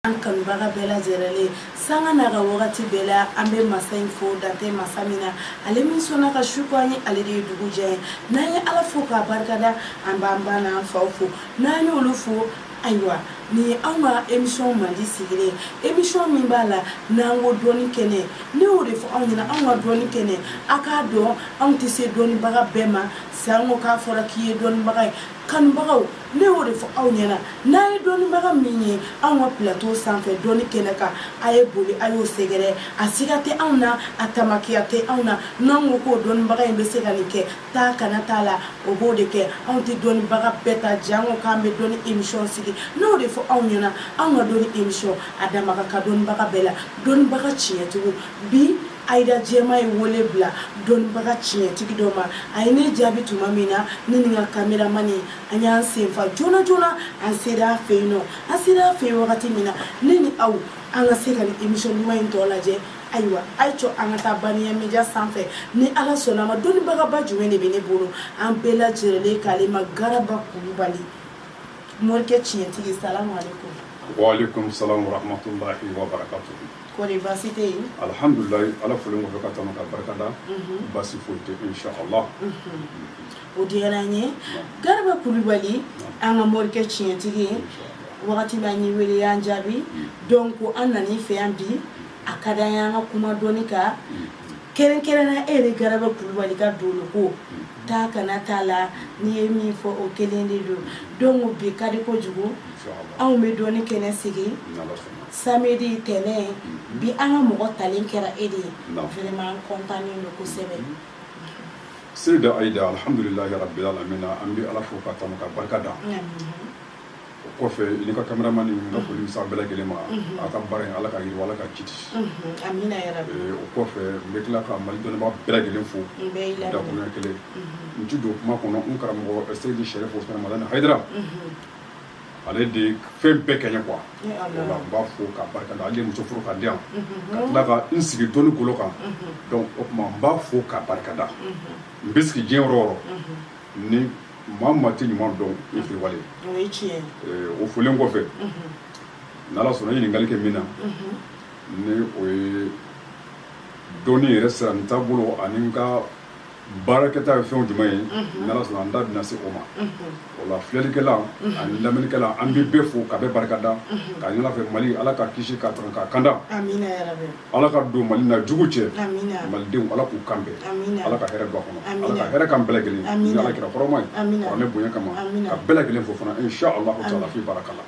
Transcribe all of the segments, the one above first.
an kanubaga bɛɛ lajɛrɛlen sanga n'a ka wagati bɛɛ la an bɛ masa in fo dan tɛ masa min na ale min sɔnna ka su ko an ye ale de ye dugu jɛ an ye n'an ye ala fo k'a barikada an b'an ba n'an faw fo n'an y'olu fo ayiwa nin ye anw ka emisɔn mandi sigilen emisɔn min b'a la n'an ko dɔnni kɛnɛ ne y'o de fɔ aw ɲɛna anw ka dɔnni kɛnɛ a k'a dɔn anw tɛ se dɔnnibaga bɛɛ ma Sanko k'a fɔra k'i ye dɔnnibaga ye kanubagaw ne y'o de fɔ aw ɲɛna n'a ye dɔnnibaga min ye anw ka plateau sanfɛ dɔnni kɛnɛ kan a ye boli a y'o sɛgɛrɛ a siga tɛ anw na a tamakiya tɛ anw na n'an ko k'o dɔnnibaga in bɛ se ka nin kɛ taa kana t'a la o b'o de kɛ anw tɛ dɔnnibaga bɛɛ ta janko k'an bɛ dɔnni emisɔn sigi n'o de fɔ aw ɲɛna anw ka dɔnni emisɔn a dama ka dɔnnibaga bɛɛ la dɔnnibaga tiɲɛtigiw bi Aida Diema ye wele bila dɔnnibaga tiɲɛtigi dɔ ma, a ye ne jaabi tuma min na, ne ni n ka cameraman an y'an senfa joona joona, an sera a fɛ yen nɔ, an sera a fɛ yen wagati min na, ne ni aw an ka se ka nin emission duman in tɔ lajɛ, ayiwa a ye cɔ an ka taa Baniya media sanfɛ, ni Ala sɔnna a ma dɔnnibagaba jumɛn de bɛ ne bolo, an bɛɛ lajɛrɛlen k'ale ma Garaba Kulubali, morikɛ tiɲɛtigi, salamu aleyikomu. Wa aleyikomu salamu wa rahamatulahi wa barakatuhu. Kɔri baasi tɛ yen? Alhamdulilahi Ala folen kɔfɛ ka tanu ka barika da. Unhun! Baasi foyi tɛ yen incha Allah. Unhun! O diyara an ye. Garaba Kulubali an ka morikɛ tiɲɛtigi ye. Wagati bɛɛ an y'i wele i y'an jaabi. Donc an nana i fɛ yan bi, a ka d'an ye an ka kuma dɔnni kan, kɛrɛnkɛrɛnnenya e yɛrɛ Garaba Kulubali ka dɔnko, taa kana t'a la, n'i ye min fɔ o kelen de don. Donc bi ka di kojugu anw bɛ dɔnni kɛnɛ sigi. Ni Ala sɔnna. samedi tɛnɛn bi an ka mɔgɔ talen kɛra e de ye Naamu. vraiment an content nen don kosɛbɛ Seyida Ayida alhamdulilahi rabili alamina an bɛ Ala fo ka tanu ka barika da o kɔfɛ i ni ka cameraman n ka foli bɛ se aw bɛɛ lajɛlen ma aw ka baara in Ala ka yiriwa Ala ka jidi Unhun, amina ya rabi Eh, o kɔfɛ n bɛ tila ka Mali dɔnnibaa bɛɛ lajɛlen fo n bɛɛ y'i lamɛn dakuruɲɛ kelen n ti don kuma kɔnɔ n karamɔgɔ Seyidi Sɛrifu Usumani Madani Hayidara ale de ye fɛn bɛɛ kɛ n ye quoi Ee Ala. o la n b'a fo k'a barika da ale de ye muso furu ka di yan ka tila ka n sigi dɔnni kolo kan donc o tuma n b'a fo k'a barika da n bɛ sigi diɲɛ yɔrɔ o yɔrɔ ni maa o maa tɛ ɲuman dɔn i fitiriwale O ye tiɲɛ ye. Eh, o folen kɔfɛ n'ala sɔnna i ye ɲininkali kɛ min na ni o ye dɔnni yɛrɛ sira n taabolo ani n ka baarakɛta ye fɛn jumɛn ye n'ala sɔnna an da bɛna se o ma o la filɛlikɛla ani lamɛnnikɛla an bɛ bɛɛ fo ka bɛɛ barika da k'a ɲini ala fɛ mali ala k'a kisi k'a tanga k'a kanda ala ka don mali n'a jugu cɛ malidenw ala k'u kan bɛn ala ka hɛrɛ don a kɔnɔ ala ka hɛrɛ k'an bɛɛ lajɛlen ye ala kira hɔrɔma an'a bonya kama ka bɛɛ lajɛlen fo fana insha allah taala fi baraka la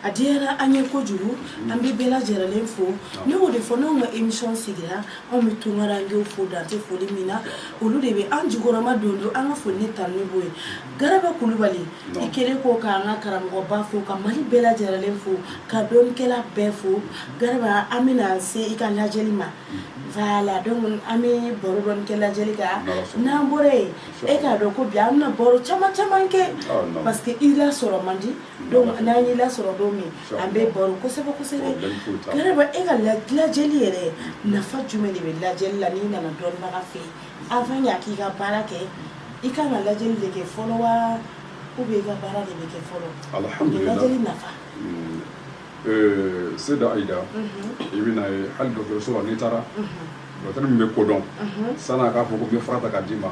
a diyara an ye kojugu an bɛ bɛɛ lajɛlen fo ne y'o de fɔ n'anw ka émission sigira anw bɛ tunkarankew fo dan tɛ foli min na olu de bɛ an jukɔrɔma don donc an ka foli ni tanuni b'o ye garaba kulubali i kɛlen ko k'an ka karamɔgɔba fo ka mali bɛɛ lajɛlen fo ka dɔnnikɛla bɛɛ fo garaba an bɛna se i ka lajɛli ma voilà donc an bɛ baro dɔɔni kɛ lajɛli kan n'an bɔra yen e k'a dɔn ko bi an bɛna baro caman caman kɛ parce que i lasɔrɔ man di donc n'an y'i lasɔrɔ don min an bɛ baro kosɛbɛ kosɛbɛ garaba e ka lajɛli yɛrɛ nafa jumɛn de bɛ lajɛli la n'i nana dɔnnibaga fɛ yen avant y'a k'i ka baara kɛ i kan ka lajɛli de kɛ fɔlɔ wa ou bien i ka baara de bɛ kɛ fɔlɔ alhamdulilah lajɛli nafa hmm. eh, Seda Ayida mhm. i bɛn'a ye hali dɔgɔtɔrɔso la n'i taara mhm. Dɔgɔtɔrɔ min bɛ ko dɔn san'a k'a fɔ ko n bɛ fura ta k'a d'i ma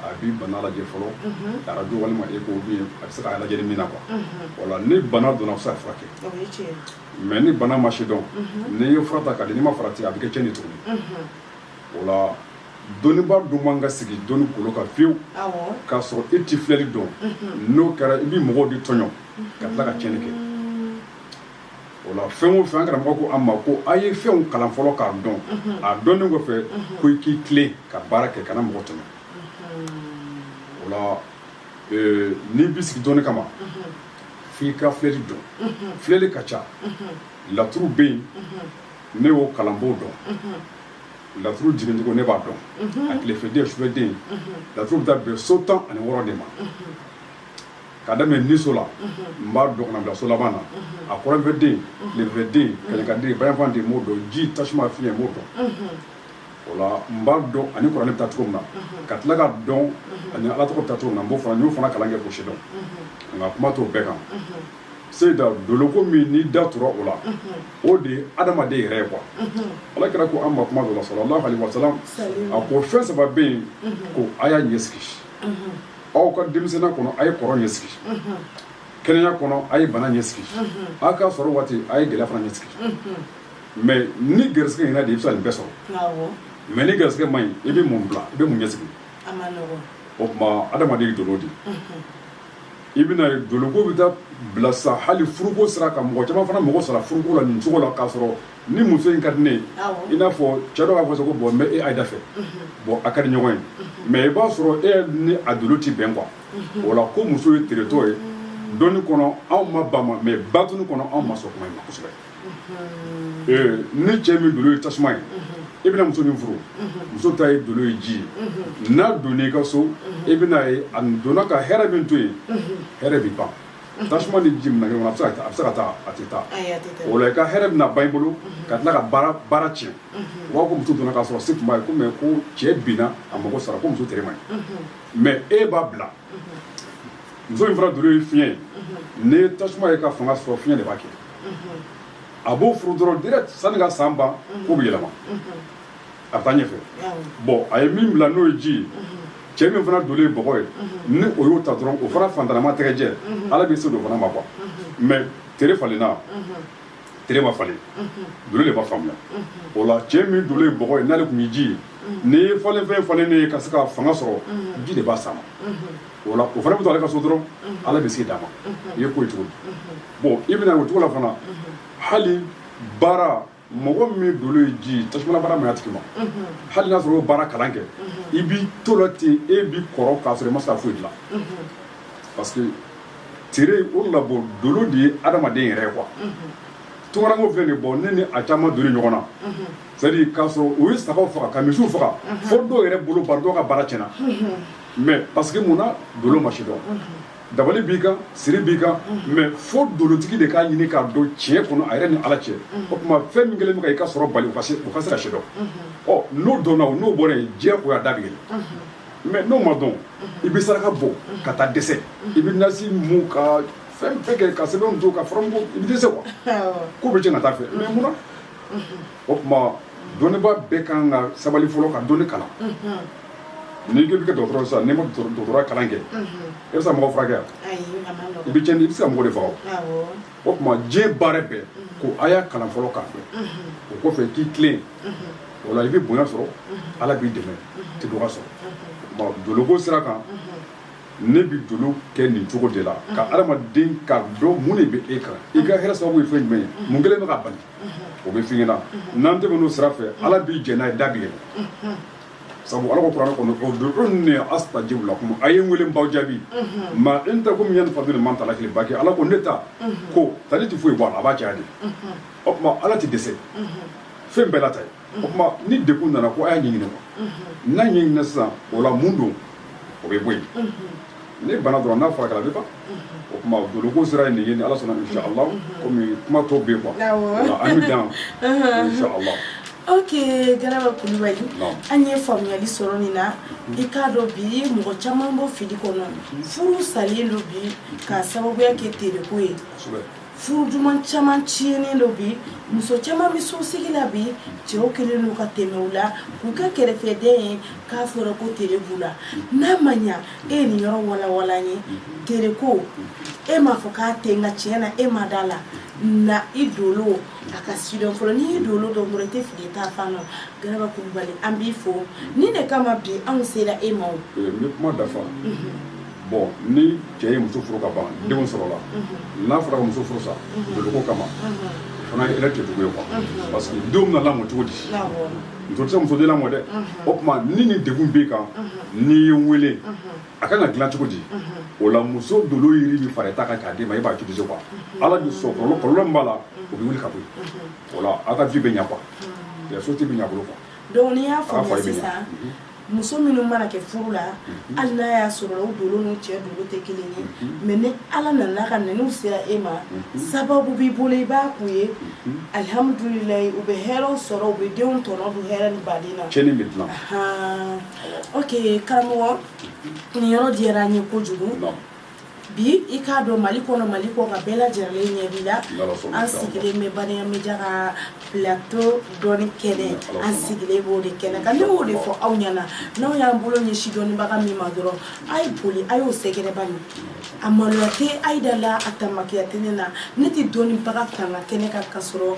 a b'i bana lajɛ fɔlɔ arajo walima écho ou bien a bɛ se k'a lajɛ min na quoi wala ni bana dɔnna a bɛ se ka furakɛ mais ni bana ma sidɔn n'i ye fura ta k'a di n'i ma farati a bɛ kɛ tiɲɛni ye tuguni o la dɔnnibaa dun man ka sigi dɔnni golo kan fiyewu k'a sɔrɔ e tɛ filɛli dɔn n'o kɛra i bɛ mɔgɔw de tɔɲɔ ka tila ka tiɲɛni kɛ o la fɛn o fɛn an karamɔgɔ ko an ma ko a ye fɛnw kalan fɔlɔ k'a dɔn a dɔnnen kɔfɛ ko i k'i tilen ka baara kɛ kana mɔgɔ tɔɲɔ o la n'i bi sigi dɔnni kama f'i ka filɛli dɔn filɛli ka ca laturu bɛ yen ne y'o kalan n b'o dɔn laturu jigincogo ne b'a dɔn a tilefɛden sufɛden laturu bɛ taa bɛn so tan ani wɔɔrɔ de ma ka daminɛ niso la n b'a dɔn ka n'a bila so laban na a kɔrɔnfɛden tilefɛden kɛɲɛkaden bayanfanden n b'o dɔn ji tasuma fiɲɛ n b'o dɔn o la n b'a dɔn ani kuranɛ bɛ taa cogo min na ka tila k'a dɔn ani ala tɔgɔ bɛ taa cogo min na n b'o fana n y'o fana kalan kɛ k'o sidɔn nka kuma t'o bɛɛ kan seyida doloko min n'i da tora o la o de ye adamaden yɛrɛ ye quoi ala kira ko an ma kuma dɔ la sallallahu alaihi wasalam a ko fɛn saba bɛ yen ko a y'a ɲɛ sigi aw ka denmisɛnninya kɔnɔ a ye kɔrɔ ɲɛ sigi kɛnɛya kɔnɔ a ye bana ɲɛ sigi aw ka sɔrɔ waati a ye gɛlɛya fana ɲɛ sigi mais n'i garisɛgɛ ɲɛna de i bɛ se ka nin bɛɛ sɔrɔ mais n'i garisɛgɛ man ɲi i bɛ mun bila i bɛ mun ɲɛ sigi o tuma adamaden ye dolo di i bɛn'a ye doloko bɛ taa bila sa hali furuko sira kan mɔgɔ caman fana mago sara furuko la nin cogo la k'a sɔrɔ ni muso in ka di ne ye i n'a fɔ cɛ dɔ b'a fɔ ko bon n bɛ e ayida fɛ bon a ka di ɲɔgɔn ye mais i b'a sɔrɔ e ni a dolo tɛ bɛn quoi o la ko muso ye teretɔ ye dɔnni kɔnɔ anw ma ban ma mais batini kɔnɔ anw ma sɔn kuma in ma kosɛbɛ ee ni cɛ min dolo ye tasuma ye i bɛna muso min furu muso ta ye dolo ye ji ye n'a donna i ka so i bɛna ye a donna ka hɛrɛ min to yen hɛrɛ bɛ ban tasuma ni ji minɛ ɲɔgɔn na a bɛ se ka taa a bɛ se ka taa a tɛ taa ayi a tɛ taa o la i ka hɛrɛ bɛna ban i bolo ka tila ka baara tiɲɛ u b'a fɔ ko muso donna k'a sɔrɔ se tun b'a ye ko mais ko cɛ binna a mago sara ko muso tere man ɲi mais e b'a bila muso in fana dolo ye fiɲɛ ye n'i ye tasuma ye ka fanga sɔrɔ fiɲɛ de b'a kɛ a b'o furu dɔrɔn direct sanni ka san ban ko bɛ yɛlɛma a bɛ taa ɲɛfɛ bon a ye min bila n'o ye ji ye cɛ min fana dolo ye bɔgɔ ye ni o y'o ta dɔrɔn o fana fantanama tɛgɛjɛ ala bɛ se d'o fana ma quoi mais tere falenna tere ma falen dolo de ma faamuya o la cɛ min dolo ye bɔgɔ ye n'ale tun ye ji ye n'i ye falenfɛn falennen ye ka se ka fanga sɔrɔ ji de b'a sama o la o fana bɛ to ale ka so dɔrɔn ala bɛ se d'a ma i ye ko ye cogo bon i bɛna o cogo la fana hali baara mɔgɔ min dolo ye ji ye tasuma baara man ɲi a tigi ma hali n'a sɔrɔ o baara kalan kɛ i b'i to la ten e bi kɔrɔ k'a sɔrɔ i ma se ka foyi dilan parce que tere o la bon dolo de ye adamaden yɛrɛ ye quoi tunkaranko filɛ nin bon ne ni a caman donni ɲɔgɔn na c'est à dire k'a sɔrɔ u ye sagaw faga ka misiw faga fo dɔw yɛrɛ bolo bari dɔw ka baara tiɲɛna mais parce que mun na dolo ma sidɔn dabali b'i kan siri b'i kan mais fo dolotigi de k'a ɲini k'a dɔn tiɲɛ kɔnɔ a yɛrɛ ni ala cɛ o tuma fɛn min kɛlen bɛ ka i ka sɔrɔ bali u ka se ka sidɔn ɔ n'o dɔnna o n'o bɔra yen diɲɛ koɲɛ da bɛ yɛlɛ mais n'o ma dɔn i bɛ saraka bɔ ka taa dɛsɛ i bɛ nasi mun ka fɛn bɛɛ kɛ ka sɛbɛn don ka furamugu i bɛ dɛsɛ quoi ko bɛ cɛn ka taa fɛ mais mun o tuma dɔnnibaa bɛɛ kan ka sabali fɔlɔ ka dɔnni kalan n'i ko i bɛ kɛ dɔgɔtɔrɔ sisan n'i ma dɔgɔtɔrɔya kalan kɛ e bɛ se mɔgɔ furakɛ yan i bɛ cɛnni i bɛ se ka mɔgɔ de faga o tuma diɲɛ baara bɛɛ ko a y'a kalan fɔlɔ k'a fɛ o kɔfɛ k'i tilen o la i bɛ bonya sɔrɔ ala b'i dɛmɛ tɛ dɔgɔya sɔrɔ o tuma doloko sira kan ne bɛ dolo kɛ nin cogo de la ka adamaden k'a dɔn mun de bɛ e kan i ka hɛrɛ sababu ye fɛn jumɛn ye mun kɛlen bɛ k'a bali o bɛ f'i ɲɛna n'an tɛmɛn'o sira fɛ ala b'i jɛn n'a ye da bɛ yɛlɛ sabu ala ko kuranɛ kɔnɔ ud'uni astajib lakum a ye n weele n b'aw jaabi maa indakum yanfadu ni maa indallahi baki ala ko ne ta ko tali tɛ foyi bɔ a la a b'a caya de o tuma ala tɛ dɛsɛ fɛn bɛɛ la ta ye o tuma ni degun nana ko a y'a ɲɛɲini quoi unhun n'a ɲɛɲinina sisan o la mun don o bɛ bɔ yen ni bana dɔrɔn n'a furakɛla a bɛ ban o tuma doloko sira ye nin ye ni ala sɔnna insha allah komi kuma tɔ bɛ yen quoi Awɔ. Voilà, an bɛ dan insha allah ok garaba kulubali Naam. an ye faamuyali sɔrɔ nin na i k'a dɔn bi mɔgɔ caman b'o fili kɔnɔ furu salen don bi k'a sababuya kɛ tereko ye kosɛbɛ furu duman caman tiɲɛnen do bi muso caman bɛ sosigi la bi cɛw kɛlen don ka tɛmɛ u la k'u kɛ kɛrɛfɛden ye k'a fɔra ko tere b'u la n'a ma ɲa e ye nin yɔrɔ walawala n ye tereko e m'a fɔ k'a tɛ nka tiɲɛ na e ma da la na i dolo a ka sidɔn fɔlɔ n'i y'i dolo dɔn dɔrɔn i tɛ fili ta fan na garaba kulubali an b'i fo nin de kama bi anw sera e ma o. n bɛ kuma dafa. bon ni cɛ ye muso furu ka ban denw sɔrɔla n'a fɔra ka muso furu sa doloko kama fana ye yɛrɛ kɛcogo ye quoi parce que denw bɛna lamɔ cogo di muso tɛ se muso den lamɔ dɛ o tuma ni nin degun b'i kan n'i ye n wele a kan ka dilan cogo di o la muso dolo yiri min fara ta kan k'a d'i ma e b'a utiliser quoi ala bɛ sɔn kɔlɔlɔ kɔlɔlɔ min b'a la o bɛ wuli ka bɔ yen o la aw ka vie bɛ ɲa quoi société bɛ ɲa bolo quoi donc n'i y'a faamuya sisan muso minnu mana kɛ furu la mhm. hali n'a y'a sɔrɔ u dolo n'u cɛ dolo tɛ kelen ye mhm. mais ni ala nana ka na n'u sera e ma mhm. sababu b'i bolo i b'a k'u ye alihamdulilayi u bɛ hɛrɛw sɔrɔ u bɛ denw tɔnɔ dun hɛrɛ ni badenya cɛni bɛ dilan ok karamɔgɔ nin yɔrɔ diyara an ye kojugu Bi i k'a dɔn mali kɔnɔ mali kɔkan bɛɛ lajɛlen ɲɛ b'i la an sigilen bɛ baraya média ka plateau dɔnni kɛnɛ an sigilen b'o de kɛnɛ kan ne b'o de fɔ aw ɲɛna n'aw y'an bolo ɲɛsin dɔnnibaga min ma dɔrɔn a ye boli a y'o sɛgɛrɛ bari a maloya tɛ aida la a tamakiya tɛ ne na ne tɛ dɔnnibaga tanga kɛnɛ kan ka sɔrɔ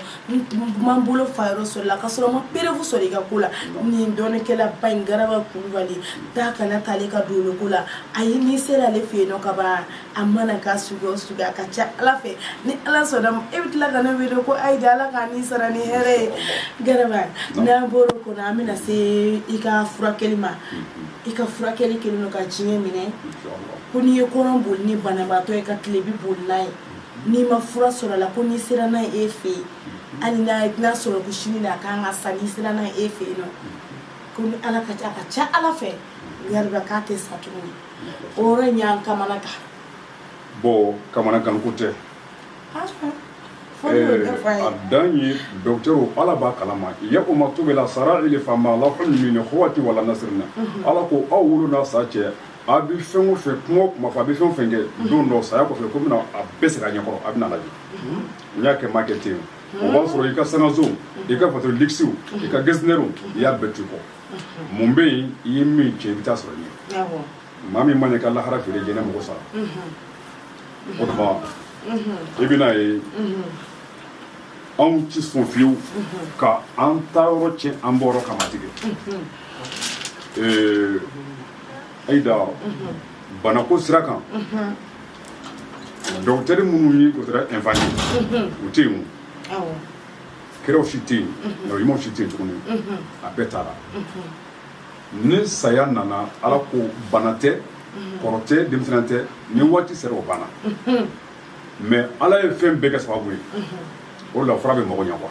ma n bolo fa yɔrɔ sɔrɔ a la ka sɔrɔ n ma preuve sɔrɔ i ka ko la nin dɔnnikɛla ba in garaba kulubali taa kana t'ale ka dɔnko la ayi n'i sera ale fɛ yen ka ban a mana k'a sugu o sugu a ka ca ala fɛ ni ala sɔnna e bɛ tila ka ne wele ko aida ala ka n'i sara ni hɛrɛ ye garaba n'an bɔra o kɔnɔ an bɛna se i ka furakɛli ma i ka furakɛli kɛlen don ka diɲɛ minɛ ko n'i ye kɔrɔn boli ni banabaatɔ ye ka tilebin boli n'a ye n'i ma fura sɔrɔ a la ko n'i sera n'a ye e fɛ yen hali n'a sɔrɔ ko sini na a kan ka sa n'i sera n'a ye e fɛ yen nɔ ko ni ala ka a ka ca ala fɛ garaba k'a tɛ sa tuguni o yɔrɔ in y'an kamanagan bon kamanagan ko tɛ ah, eh, a dan ye docteur ala b'a kalama yawma tubila sarayiri fama lahu min kuwati wala nasirina mhm. ala ko aw wolo n'aw sa cɛ a bɛ fɛn o fɛn kuma o kuma fɔ a bɛ fɛn o fɛn kɛ don dɔ saya kɔfɛ ko bɛna a bɛɛ segin a ɲɛkɔrɔ a bɛna lajɛ n y'a kɛ n m'a kɛ ten o b'a sɔrɔ i ka sankanso i ka fato lisiw i ka gesɛrw i y'a bɛɛ to i kɔ mun bɛ yen i ye min cɛ i bɛ taa sɔrɔ ɲɛ maa min man'i ka lahara feere diɲɛ na mɔgɔ sara o tuma i bɛna ye anw tɛ sɔn fiyewu ka an taayɔrɔ tiɲɛ an bɔyɔrɔ kama tigɛ ayi da banako sira kan dɔgɔtɛri minnu ni o kɛra ɛnfani u tɛ yen kiraw si tɛ yen ɲumanw si tɛ yen tuguni a bɛɛ taara ni saya nana ala ko bana tɛ kɔrɔ tɛ denmisɛnnin tɛ ni waati sera o banna mais ala ye fɛn bɛɛ kɛ sababu ye o la fura bɛ mago ɲɛ quoi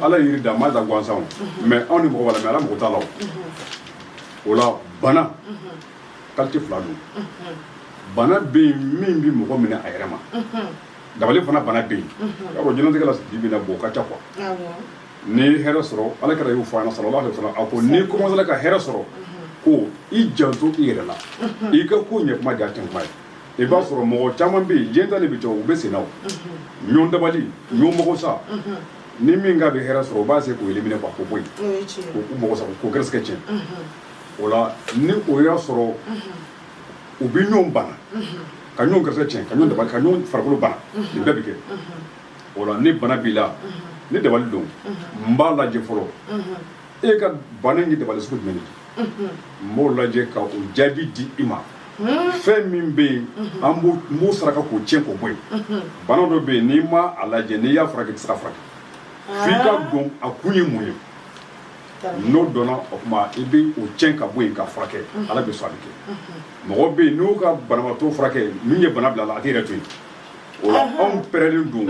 ala ye yiri da a m'a da gansan mais anw ni mɔgɔ b'a la mais ala mɔgɔ t'a la o la bana qualité fila don bana bɛ yen min bɛ mɔgɔ minɛ a yɛrɛ ma dabali fana bana bɛ yen y'a dɔn diɲɛnatigɛ la sigi bɛna bɔ ka ca quoi n'i ye hɛrɛ sɔrɔ ala kira y'o fɔ an na sallallahu alaihi wa sallam a ko n'i kɔmansela ka hɛrɛ sɔrɔ ko i janto i yɛrɛ la i ka ko ɲɛ kuma jan tɛ kuma ye i b'a sɔrɔ mɔgɔ caman bɛ yen diɲɛ ta de bɛ cɛ u bɛ senna o ɲɔn dabali ɲɔn mɔgɔ sa ni min ka bɛ hɛrɛ sɔrɔ u b'a se k'o éliminer quoi k'o bɔ yen o ye tiɲɛ ye k'u mɔgɔ sa k'o gɛrɛsɛgɛ tiɲɛ o la ni o ye hɛrɛ sɔrɔ u bɛ ɲɔn bana ka ɲɔn gɛrɛsɛgɛ tiɲɛ ka ɲɔn dabali ka ɲɔn farikolo bana nin bɛɛ bɛ kɛ o la ni bana b'i la ni dabali don n b'a lajɛ fɔlɔ e ka bana in ye dabali sugu jumɛn de ye n b'o lajɛ ka o jaabi di i ma fɛn min bɛ yen an b'o n b'o saraka k'o tiɲɛ k'o bɔ yen bana dɔ bɛ yen n'i ma a lajɛ n'i y'a furakɛ i tɛ se ka furakɛ f'i ka dɔn a kun ye mun ye n'o dɔnna o tuma i bɛ o tiɲɛ ka bɔ yen ka furakɛ ala bɛ sɔn a bɛ kɛ mɔgɔ bɛ yen n'o ka banabaatɔ furakɛ min ye bana bila a la a tɛ yɛrɛ to yen O la anw pɛrɛlen don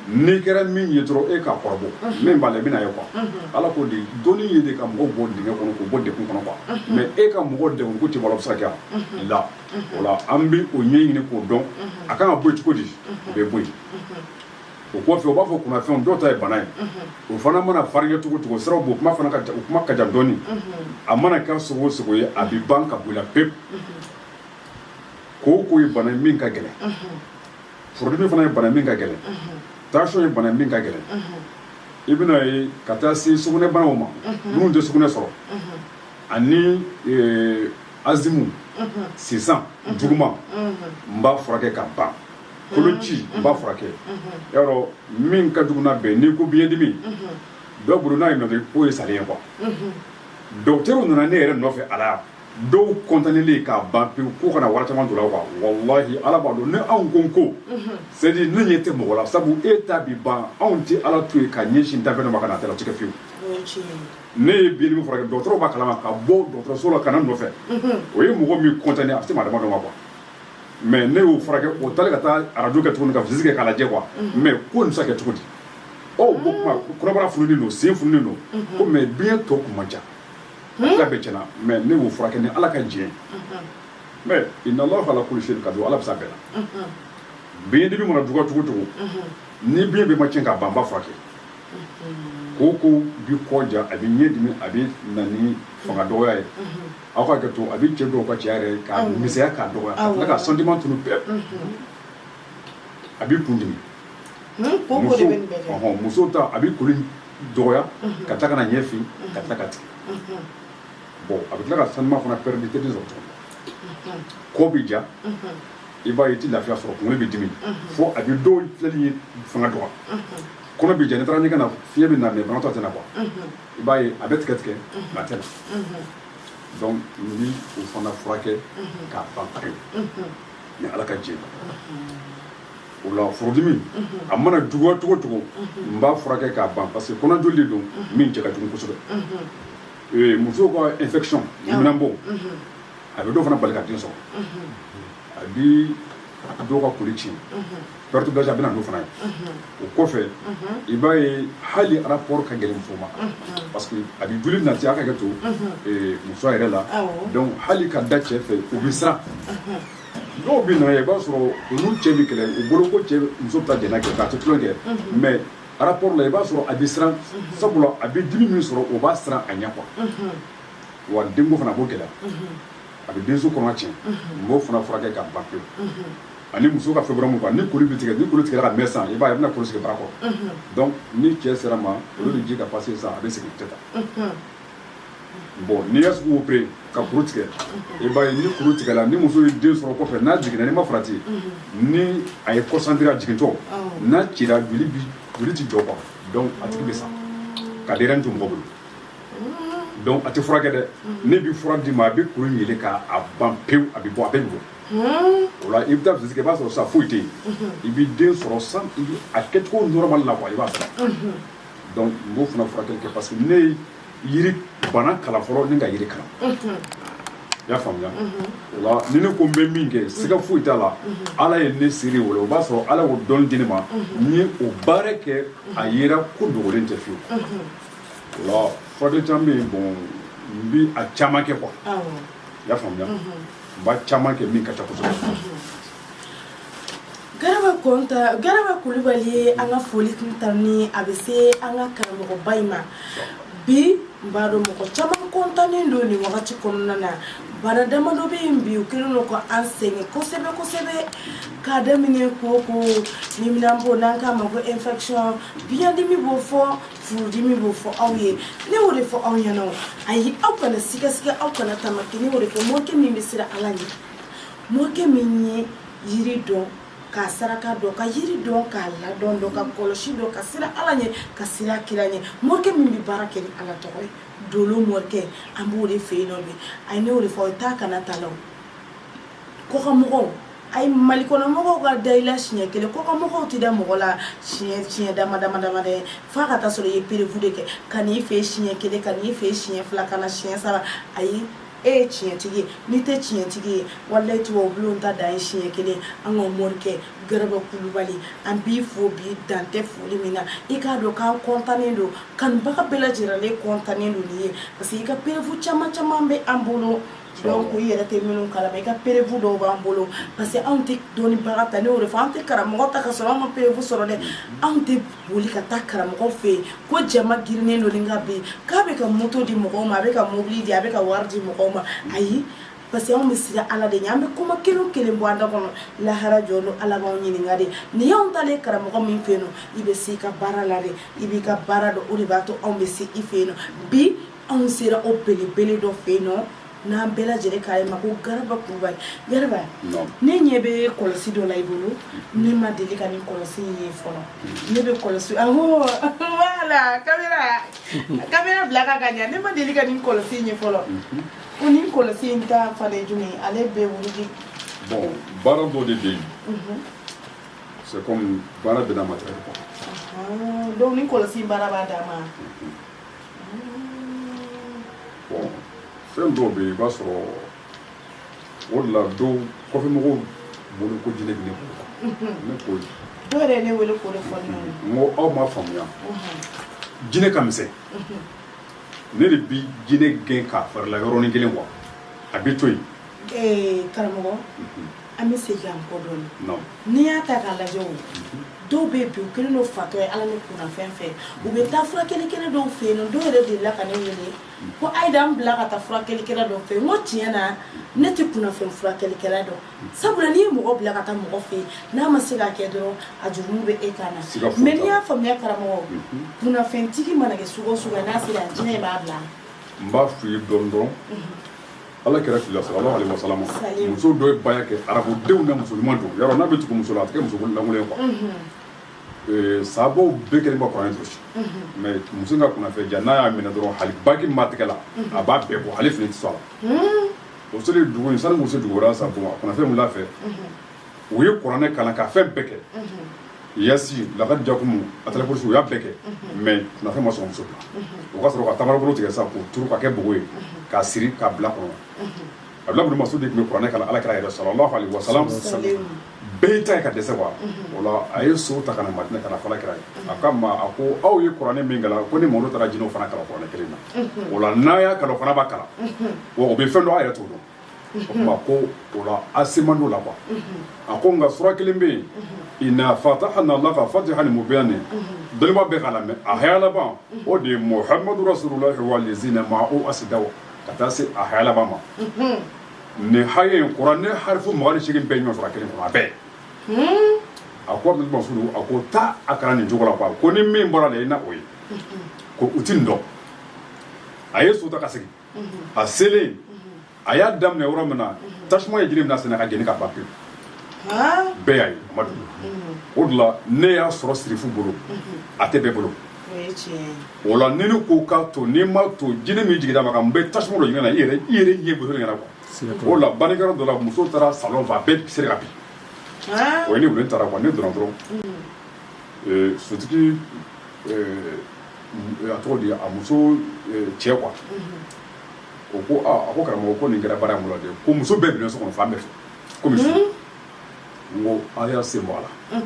n'i kɛra min ye dɔrɔn e k'a kɔrɔbɔ min b'a la i bɛna ye quoi Ala ko de dɔnni ye de ka mɔgɔw bɔ dingɛ kɔnɔ k'u bɔ degun kɔnɔ quoi mais e ka mɔgɔw degun ko tɛ bɔ a la o bɛ se ka kɛ wa la o la an bɛ o ɲɛɲini k'o dɔn a kan ka bɔ yen cogo di o bɛ bɔ yen o kɔfɛ u b'a fɔ kunnafɛnw dɔw ta ye bana ye o fana mana farinya cogo cogo siraw b'o kuma fana ka jan o kuma ka jan dɔɔni a mana kɛ sugu o sugu ye a bɛ ban ka bɔ i la pewu. kooko ye bana min ka gɛlɛn furudimi fana ye bana min ka gɛlɛn tension ye bana min ka gɛlɛn i bɛna ye ka taa se sugunɛbanaw ma minnu tɛ sugunɛ sɔrɔ ani e, azimu sisan juguman n b'a furakɛ ka ban koloci n b'a furakɛ yɔrɔ min ka jugu na bɛn n'i ko biyɛndimi dɔ bolo n'a ye nɔfɛ k'o ye salen ye quoi dɔgɔtɛriw nana ne yɛrɛ nɔfɛ ala dɔw condamnélen k'a ban pewu ko kana wari caman don a la quoi walahi ala b'a dɔn ne anw ko ko c'est-à-dire ne ɲɛ tɛ mɔgɔ la sabu e ta bi ban anw tɛ ala to yen ka ɲɛsin danfɛn ma kana tɛla o tɛ kɛ fiyewu ne ye biɲɛdimi furakɛ dɔgɔtɔrɔ b'a kalama ka bɔ dɔgɔtɔrɔso la ka na n nɔfɛ o ye mɔgɔ min condamner a bɛ se maa damadɔ ma quoi mais ne y'o furakɛ o taara ka taa arajo kɛ tuguni ka visite kɛ k'a lajɛ quoi mais ko nin bɛ se ka kɛ cogo di ɔ o tuma kɔnɔbara fununen don sen fununen don ko mais biɲɛ tɔ tun man ca a bɛɛ tiɲɛna mais ne y'o furakɛ ni ala ka diɲɛ mais inna allaha ala kulli shay'in qadir ala bɛ se a bɛɛ la biɲɛdimi mana juguya cogo cogo ni biɲɛ bɛɛ ma tiɲɛ k'a ban n b'a furakɛ koko bi kɔ ja a bɛ ɲɛ dimi a bɛ na ni fanga dɔgɔya ye aw ka kɛ to a bɛ cɛ dɔw ka cɛya yɛrɛ ka misɛnya ka dɔgɔya ka tila ka sentiment tunun bɛɛ a bɛ kun dimi muso ta a bɛ koli dɔgɔya ka tila ka na ɲɛ fin ka tila ka tigɛ bon a bɛ tila ka sentiment fana perdre tɛ sɔrɔ tuguni kɔ bɛ ja i b'a ye i tɛ lafiya sɔrɔ kunkolo bɛ dimi fo a bɛ dɔw filɛli ye fanga dɔgɔya kɔnɔ bɛ ja n'i taara ɲɛgɛn na fiɲɛ bɛ na mais banakɔ tɛ na quoi i b'a ye a bɛ tigɛ tigɛ nka a tɛ na donc n bi o fana furakɛ k'a ban pewu ni ala ka jɛ o la furudimi a mana juguya cogo cogo n b'a furakɛ k'a ban parce que kɔnɔjoli de don min cɛ ka jugu kosɛbɛ ee, musow ka infection lɛminɛnpo a bɛ dɔw fana bali ka den sɔrɔ a bi dɔw ka koli tiɲɛ perte blanche a bɛna n'o fana ye o kɔfɛ i b'a ye hali rapport ka gɛlɛn muso ma parce que a bi joli nati a ka kɛ to ee, musoya yɛrɛ la Awɔ. donc hali ka da cɛ fɛ u bɛ siran dɔw bɛ na ye i b'a sɔrɔ olu cɛ bɛ kɛlɛ u bolo ko cɛ muso bɛ taa jɛnɛ kɛ ka taa tulon kɛ mais rapport la i b'a sɔrɔ a bɛ siran sabula a bɛ dimi min sɔrɔ o b'a siran a ɲɛ quoi wa denko fana b'o gɛlɛya a bɛ denso kɔnɔ tiɲɛ n b'o fana furakɛ k'a ban pewu ani muso ka fibrome ni koli bɛ tigɛ ni koli tigɛra ka mɛn sa i b'a ye a bɛna kuru sigi bara kɔrɔ donc ni cɛ sera ma o lawaji ka passer sa a bɛ segin tɛ taa bon n'i y'a sugu opérer ka kuru tigɛ i b'a ye ni kuru tigɛla ni muso ye den sɔrɔ kɔfɛ n'a jiginna n'i ma farati ni a ye concentrer a jigintɔ n'a cira joli bi joli ti jɔ quoi donc a tigi bɛ sa ka denyɛrɛni to mɔgɔ bolo donc a tɛ furakɛ dɛ ne bi fura d'i ma a bɛ kuru yeelen k'a ban pewu a bɛ bɔ a bɛ bɔ o la i bɛ taa visite kɛ i b'a sɔrɔ sa foyi tɛ yen i bɛ den sɔrɔ sa a kɛcogo normal la quoi i b'a sɔrɔ donc n b'o fana furakɛli kɛ parce que ne ye yiri bana kalan fɔlɔ ni ka yiri kalan i y'a faamuya o la ni ne ko n bɛ min kɛ siga foyi t'a la ala ye ne seere o la o b'a sɔrɔ ala y'o dɔnni di ne ma n ye o baara kɛ a yera ko dogolen tɛ fiyewu o la furakɛli caman bɛ yen bon n bi a caman kɛ quoi i y'a faamuya n b'a caman kɛ min ka ca kosɛbɛ Garaba kɔntan garaba kulubali ye an ka foli tanuni a bɛ se an ka karamɔgɔba in ma bi n b'a dɔn mɔgɔ caman kɔntannen don nin wagati kɔnɔna na bana damadɔ bɛ yen bi u kɛlen ka an sɛgɛn kosɛbɛ kosɛbɛ k'a daminɛ ko leminanpo n'an k'a ma ko infection biyɛndimi b'o fɔ furudimi b'o fɔ aw ye ne y'o de fɔ aw ɲɛna ayi aw kana sigasiga aw kana tamaki ne y'o de fɔ morikɛ min bɛ siran ala ɲɛ morikɛ min ye yiri dɔn ka saraka dɔn ka yiri dɔn k'a ladɔn dɔn ka kɔlɔsi dɔn ka siran ala ɲɛ ka siran kira ɲɛ morikɛ min bɛ baara kɛ ni ala tɔgɔ ye dolo morikɛ an b'o de fɛ yen nɔ bi a ye ne y'o de fɔ ye taa kana ta la kɔkanmɔgɔw a ye mali kɔnɔmɔgɔw ka da i la siɲɛ kelen kɔkanmɔgɔw tɛ da mɔgɔ la siɲɛ siɲɛ dama dama dama dɛ f'a ka taa sɔrɔ i ye preuve de kɛ ka n'i fɛ siɲɛ kelen ka n'i fɛ siɲɛ fila ka na siɲɛ saba ayi e ye tiɲɛtigi ye n'i tɛ tiɲɛtigi ye walayi tubabulon ta dan ye siɲɛ kelen an ka morikɛ garaba kulubali an b'i fo bi dantɛ foli min na i k'a dɔn k'an kɔntannen don kanubaga bɛɛ lajɛlen kɔntannen don nin ye parce que i ka preuve caman caman bɛ an bolo donc i yɛrɛ tɛ minnu kalama i ka preuve dɔw b'an bolo parce que anw tɛ dɔnnibaga ta ne y'o de fɔ an tɛ karamɔgɔ ta ka sɔrɔ an ma preuve sɔrɔ dɛ anw tɛ boli ka taa karamɔgɔ fɛ yen ko jama girinnen don ni ka bin k'a bɛ ka moto di mɔgɔw ma a bɛ ka mobili di a bɛ ka wari di mɔgɔw ma ayi parce que anw bɛ siran ala de ɲɛ an bɛ kuma kelen o kelen bɔ an da kɔnɔ lahara jɔ don ala b'anw ɲininka dɛ n'i y'anw taalen ye karamɔgɔ min fɛ yen nɔ i bɛ se i ka baara la de i b'i ka baara dɔn o de b'a to anw bɛ se i fɛ yen nɔ bi anw sera o belebele dɔ fɛ yen nɔ n'an bɛɛ lajɛlen k'a ye ma ko garaba kulubali garaba ne ɲɛ bɛ kɔlɔsi dɔ la i bolo ne ma deli ka nin kɔlɔsi in ye fɔlɔ ne bɛ kɔlɔsi awɔ wala kamera kamera bila ka ka ɲa ne ma deli ka nin kɔlɔsi in ye fɔlɔ mhm. ko nin kɔlɔsi in ta fana ye jumɛn ye ale bɛ wuli bon baara dɔ de bɛ yen mhm. c'est comme baara bɛɛ n'a matériel quoi donc nin kɔlɔsi baara b'a dan ma mhm. fɛn dɔw bɛ yen i b'a sɔrɔ o de la dɔw kɔfɛ mɔgɔw bolo ko jinɛ bɛ ne bolo ne ko dɔw yɛrɛ ye ne wele k'o de fɔ ne ɲɛna n ko aw ma faamuya jinɛ ka misɛn ne de bi jinɛ gɛn k'a fara i la yɔrɔnin kelen quoi a bɛ to yen karamɔgɔ an bɛ segin an kɔ dɔɔnin n'i y'a ta k'a lajɛ o dɔw bɛ bi u kelen don fatɔ ye ala ni kunnafɛn fɛ u bɛ taa furakɛlikɛla dɔw fɛ yen nɔ dɔw yɛrɛ delila ka ne wele ko ayi da n bila ka taa furakɛlikɛla dɔw fɛ yen n ko tiɲɛ na ne tɛ kunnafɛn furakɛlikɛla dɔn sabula n'i ye mɔgɔ bila ka taa mɔgɔ fɛ yen n'a ma se ka kɛ dɔrɔn a jurumu bɛ e kan na mais n'i y'a faamuya karamɔgɔ mhm. kunnafɛntigi mana kɛ sugu o sugu n'a sera jinɛ b'a bila n b'a f'i ye dɔɔnin dɔɔnin mhm. ala kira tile la sallallahu alayhi wasallam muso dɔ ye baya kɛ arabudenw na muso ɲuman don yɔrɔ n'a bɛ tugu muso la a tɛ kɛ muso lankolon ye quoi sabaw bɛɛ kelen bɛ kuranɛ durusi mais muso ka kunnafɛn jan n'a y'a minɛ dɔrɔn hali bague min b'a tɛgɛ la a b'a bɛɛ bɔ hali fini tɛ sɔrɔ a la o selen dugu in sanu muso dugu sa a kunnafɛn wula fɛ u ye kuranɛ kalan ka fɛn bɛɛ kɛ yasin lakad jaakum ayatul kursi u y'a bɛɛ kɛ mais kunnafɛn ma sɔn muso o ka sɔrɔ ka tamarobolo tigɛ sa k'o turu ka kɛ bugu ye k'a siri k'a bila kɔnɔ abdulahi masudu de tun bɛ kuranɛ kalan ala kira yɛrɛ sallallahu alayhi wasallam bɛɛ ta ye ka dɛsɛ wa o la a ye so ta ka na madina ka n'a fɔ ala kira ye a ko a ma a ko aw ye kuranɛ min kalan ko ne mamadu taara jinɛw fana kalan kuranɛ kelen na o la n'aw y'a kalan u fana b'a kalan u bɛ fɛn dɔn aw yɛrɛ t'o dɔn mhm. a ko o la a se man d'o la quoi mhm. a ko nka sura kelen bɛ yen mhm. ina fatahana laka fatihan mubinan dɔnniba bɛɛ k'a lamɛn a haya laban o de ye muhamadu rasululahi walazina maahu asidaw ka taa se a haya laban ma nin haya in kuranɛ harifu mugan ni seegin bɛ ɲɔgɔn sɔrɔ a kelen kɔnɔ a bɛɛ hmm? a ko abdul masudu a ko taa a kalan nin cogo la quoi ko ni min bɔra la i na o ye ko u ti nin dɔn a ye so ta ka segin a selen a y'a daminɛ yɔrɔ min na tasuma ye jini minɛ sɛnɛ k'a jeni ka ban pewu bɛɛ y'a ye amadu o de la ne y'a sɔrɔ sirifu bolo a tɛ bɛɛ bolo o la ni ne ko k'a to n'i m'a to jini min jiginna maa kan n bɛ tasuma don jini na i yɛrɛ i yɛrɛ ɲɛ bolo ɲɛ na quoi o la bannikɛyɔrɔ dɔ la muso taara salon fɛ a bɛ seri ka bin u ye ne wele n taara quoi ne donna dɔrɔn sotigi a tɔgɔ di a muso cɛ quoi o ko a ko karamɔgɔ ko nin kɛra baara bolo de ko muso bɛɛ binnen so kɔnɔ fan bɛɛ fɛ kɔmi su n ko aw y'a sen bɔ a la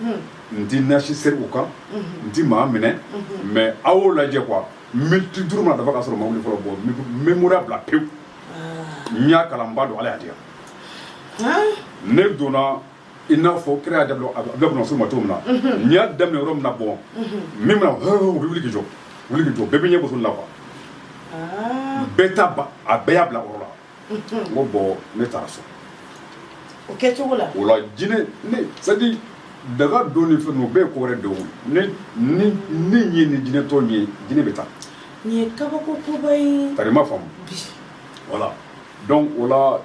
n tɛ nasi seri u kan n tɛ maa minɛ mais aw y'o lajɛ quoi miniti duuru mana dafa ka sɔrɔ u ma wuli fɔlɔ bɔn n bɛ moriya bila pewu n y'a kalan n b'a dɔn ala y'a diya ne donna i n'a fɔ kira y'a di abdulahi bun masudu ma cogo min na n y'a daminɛ yɔrɔ min na bɔn min bɛna u bɛ wuli k'i jɔ wuli k'i jɔ bɛɛ bɛ ɲɛ muso la bɛɛ ta ban a bɛɛ y'a bila yɔrɔ la n ko bɔn ne taara so o kɛ cogo la o la jinɛ ne c'est-à-dire daga don ni fɛnw o bɛɛ ko wɛrɛ don ne ni ne ye ni jinɛ tɔn ye jinɛ bɛ taa nin ye kabako koba ye tari ma faamu voilà donc o la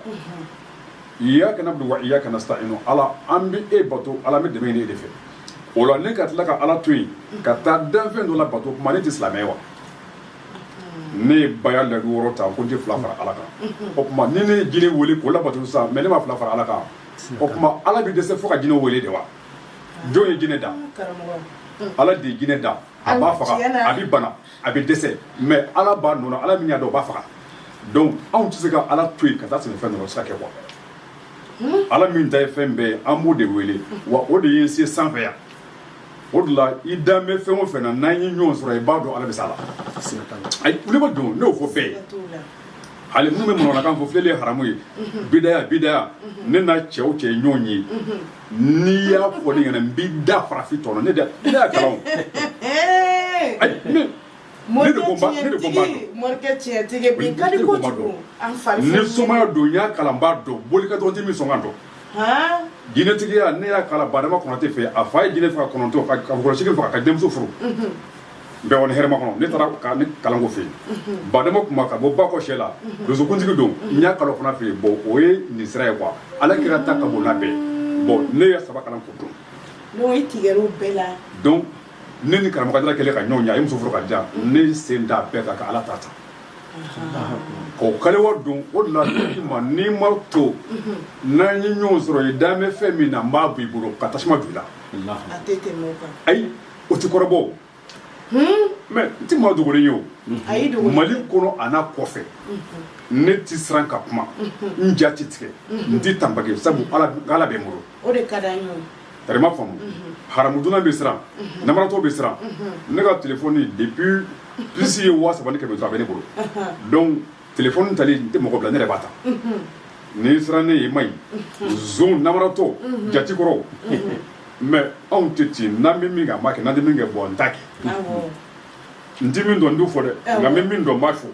iyyaka na'budu wa iyyaka nasta'in ala an bɛ e bato ala bɛ dɛmɛ ɲini e de fɛ o la ne ka tila ka ala to yen ka taa danfɛn dɔ labato o tuma ne tɛ silamɛ wa ne ye baya layidu wɔɔrɔ ta ko n tɛ fila fara ala kan o tuma ni ne ye jinɛ wele k'o labato sisan mɛ ne ma fila fara ala kan o tuma ala bɛ dɛsɛ fo ka jinɛ wele de wa jɔn ye jinɛ da ala de ye jinɛ da a b'a faga a bɛ bana a bɛ dɛsɛ mɛ ala b'a nɔ na ala min y'a da o b'a faga donc anw tɛ se ka ala to yen ka taa sɛmɛ fɛn dɔ la o tɛ se ka kɛ kuwa ala min ta ye fɛn bɛɛ ye an b'o de wele wa o de ye se sanfɛ yan o de la i dan bɛ fɛn o fɛn na n'an ye ɲɔgɔn sɔrɔ i b'a dɔn ala bɛ s'a la ayi ne ma don ne y'o fɔ bɛɛ ye hali minnu bɛ manamanakan fɔ filɛli ye haramu ye bidaya bidaya ne n'a cɛw cɛ ye ɲɔgɔn ye n'i y'a fɔ ne ɲɛna n b'i da farafin tɔ la ne y'a kalan o ayi ne de ko n b'a dɔn morikɛ tiɲɛtigi bi ka di kojugu an fari ni somaya don n y'a kalan n b'a dɔn boli ka dɔgɔ n tɛ min sɔnkan dɔn han jinɛtigiya ne y'a kalan badama konate fɛ a fa ye jinɛ faga konate ka kɔlɔsigi faga k'a denmuso furu bewani hɛrɛmakɔnɔ ne taara ka ne kalan o fɛ yen badama kuma ka bɔ bakɔ sɛla donsokuntigi don n y'a kalan o fana fɛ yen bɔn o ye nin sira ye kuwa ala kira ta ka bon n'a bɛɛ bɔn ne ye saba kalan k'o dɔn i tigɛ o bɛɛ la donc ne ni karamɔgɔ ayidara kɛlen ka ɲɔgɔn ye a ye muso furu ka diya ne sen da bɛɛ kan ka ala ta ta ko kaliwa don o de la ma n'i ma to n'an ye ɲɔgɔn sɔrɔ i dan bɛ fɛn min na n b'a bɔ i bolo ka tasuma don a la ayi o tɛ kɔrɔbɔ mɛ n tɛ maa dogolen ye o mali kɔnɔ an'a kɔfɛ ne tɛ siran ka kuma n ja tɛ tigɛ n tɛ tanbage sabu ala bɛ n bolo o de ka d'an ye tari ma faamu haramu dunna bɛ siran namaratɔ bɛ siran ne ka telefɔni depuis puce ye waa saba ni kɛmɛ duuru a bɛ ne bolo telefɔni tali n tɛ mɔgɔ bila ne yɛrɛ b'a ta n'i siranna i ye ma ɲi zon namaratɔ jati kɔrɔ mɛ anw tɛ ten n'an bɛ min kɛ an b'a kɛ n'an tɛ min kɛ bɔn n t'a kɛ n tɛ min dɔn n t'o fɔ dɛ nka n bɛ min dɔn n b'a fɔ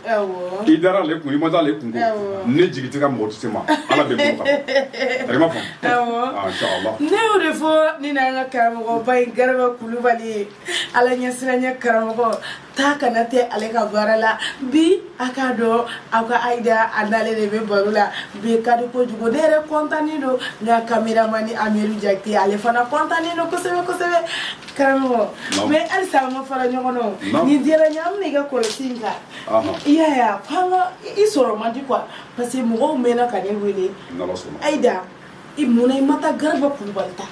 i dara ale kun i ma taa ale kun ne jigi tɛ ka mɔgɔ tɛ se ma ala bɛ bɔ kan i ma faamu ne y'o de fɔ nin y'an ka karamɔgɔba in garaba kulubali ye ala ɲɛsiranya karamɔgɔ taa kana tɛ ale ka baara la bi a k'a dɔn aw ka ayida a n'ale de bɛ baro la bi ka di kojugu ne yɛrɛ kɔntannen don n ka kameramani amiru jakite ale fana kɔntannen don kosɛbɛ kosɛbɛ karamɔgɔ mɛ halisa an ma fara ɲɔgɔn na o nin diyara n ye an bɛna i ka kɔlɔsi in kan i y'a ye f'an ka i sɔrɔ man di kuwa parce que mɔgɔw mɛnna ka ne wele ayida i mun na i ma taa garaba kulubali ta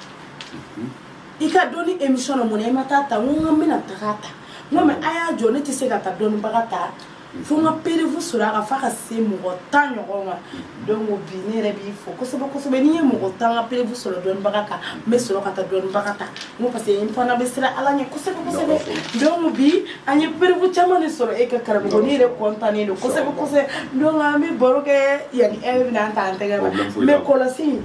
i ka dɔn ni émission na mun na i ma taa ta n ko n ka n bɛna taga ta n ko mais a y'a jɔ ne tɛ se ka taa dɔnnibaga ta fo n ka preuve sɔrɔ a kan f'a ka se mɔgɔ tan ɲɔgɔn ma donc bi ne yɛrɛ b'i fo kosɛbɛ kosɛbɛ n'i ye mɔgɔ tan ka preuve sɔrɔ dɔnnibaga kan n bɛ sɔrɔ ka taa dɔnnibaga ta n ko parce que n fana bɛ siran ala ɲɛ kosɛbɛ kosɛbɛ donc bi an ye preuve caman de sɔrɔ e kan karamɔgɔ ne yɛrɛ kɔntannen don kosɛbɛ kosɛbɛ donc an bɛ baro kɛ yanni e bɛna an ta an tɛgɛ ma mɛ kɔlɔsi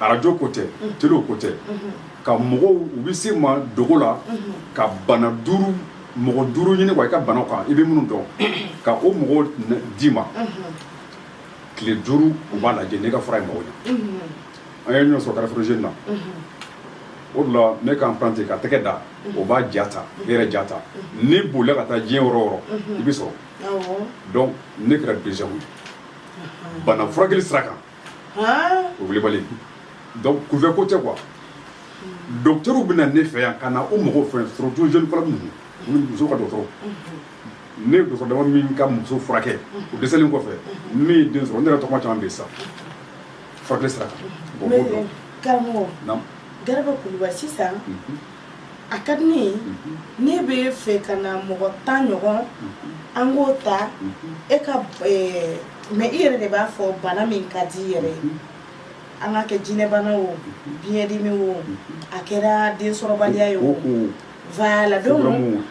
arajo ko tɛ télé ko tɛ ka mɔgɔw u bɛ se ma dogo la ka bana duuru mɔgɔ duuru ɲini quoi i ka bana kan i bɛ minnu dɔn ka o mɔgɔw d'i ma tile duuru u b'a lajɛ ne ka fura ye mɔgɔw ɲɛ an ye ɲɔgɔn sɔrɔ carrefour na o la ne k'an pante ka tɛgɛ da o b'a jata ne yɛrɛ jata ni bolila ka taa diɲɛ yɔrɔ o yɔrɔ i bɛ sɔrɔ donc ne kɛra déjà bana furakɛ sira kan o Kulubali donc kunfɛ ko tɛ quoi docteurw bɛ na ne fɛ yan ka na o mɔgɔw fɛ surtout gynécologue ninnu minnu muso ka dɔgɔtɔrɔ ne ye dɔgɔtɔrɔ dama min ka muso furakɛ o dɛsɛlen kɔfɛ min ye den sɔrɔ ne yɛrɛ tɔgɔma caman bɛ yen sisan furakɛli sira kan bon b'o dɔn karamɔgɔ Naamu. Garaba Kulubali sisan Mhm. a ka di ne ye ne bɛ fɛ ka na mɔgɔ tan ɲɔgɔn an k'o ta e ka eh, mais i yɛrɛ de b'a fɔ bana min ka di i yɛrɛ ye an ka kɛ jinɛbana o biɲɛdimi o a kɛra densɔrɔbaliya ye o voilà donc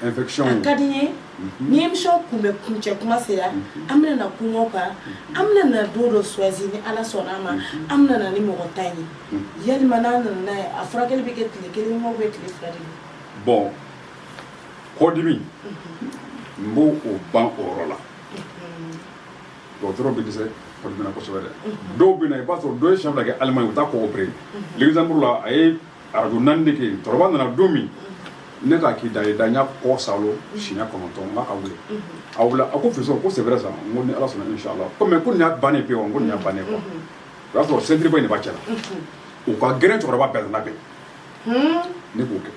a ka di n ye mhm. ni émission kun bɛ kuncɛ kuma sera mhm. an bɛna na kuma o kan mhm. an bɛna na don dɔ choisi ni ala sɔnna a ma an bɛna na ni mɔgɔ tan ye yalima n'an nana n'a ye a furakɛli bɛ kɛ tile kelen ou bien tile fila de ye bon kɔdimi n b'o ban o yɔrɔ la dɔgɔtɔrɔ bɛ dɛsɛ kɔdimi na kosɛbɛ dɛ dɔw bɛ na i b'a sɔrɔ dɔ ye siɲɛ fila kɛ Allemagne u taa kɔ opéré Luxembourg la a ye arajo naani de kɛ yen cɛkɔrɔba nana don min ne k'a k'i da ye da n y'a kɔ salo siɲɛ kɔnɔntɔn n k'a ka wuli a wulila a ko fiston ko c'est vrai ça n ko ni ala sɔnna inshallah ko mais ko nin y'a bannen pe wa n ko nin y'a bannen quoi o y'a sɔrɔ sentiriba in de b'a cɛ la u ka gɛrɛ cɛkɔrɔba bɛɛ la bɛn ne k'o kɛ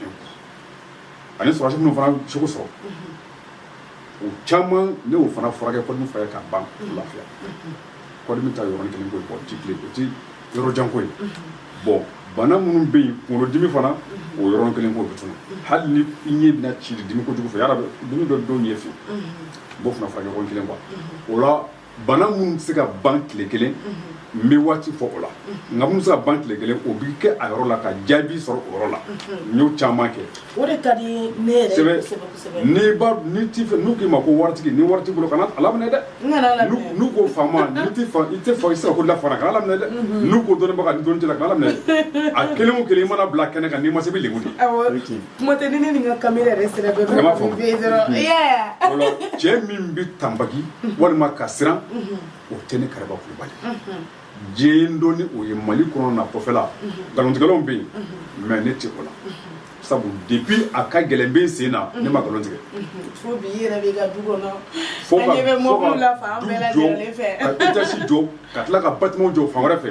ani sɔrɔdasi minnu fana seko sɔrɔ o caman ne y'o fana furakɛ kɔdimi furakɛ k'a ban lafiya kɔdimi ta yɔrɔnin kelen ko ye bon ti tile o ti yɔrɔ jan ko ye bon bana minnu bɛ yen kunkolodimi fana o yɔrɔnin kelen ko bɛ tunu hali ni i ɲɛ bɛna ci dimi kojugu fɛ yala dimi bɛ don ɲɛ fɛ n b'o fana furakɛ yɔrɔnin kelen quoi o la bana minnu tɛ se ka ban tile kelen n bɛ waati fɔ o la nka minnu se ka ban tile kelen o bɛ kɛ a yɔrɔ la ka jaabi sɔrɔ o yɔrɔ la n y'o caman kɛ o de ka di ne yɛrɛ ye kosɛbɛ kosɛbɛ n'i ba ni t'i fɛ n'u k'i ma ko waritigi ni wari t'i bolo kana a laminɛ dɛ n'u ko faama n'i tɛ fa i tɛ fa i sera ko la fana kana a laminɛ dɛ n'u ko dɔnnibaga ni dɔnni t'i la kana a laminɛ a kelen o kelen i mana bila kɛnɛ kan n'i ma se i bɛ lebu de kuma tɛ ni ne ni n ka kamera yɛrɛ sera dɔ Yɛrɛ b'a faamu. bɛ dɔrɔn Mhm. yeah o la cɛ min bɛ tanbaki walima ka siran o tɛ ne garaba kulubali diɲɛ n dɔn ni o ye mali kɔnɔ n'a kɔfɛla nkalontigɛlaw bɛ yen mais ne tɛ o la sabu depuis a ka gɛlɛn bɛ n sen na ne ma nkalon tigɛ fo bi i yɛrɛ b'i ka du kɔnɔ fo an ka ɲɛ bɛ fo mɔbiliw la ka fan du bɛɛ jɔ lajɛlen fɛ ka étage jɔ ka tila ka bâtiment jɔ fan wɛrɛ fɛ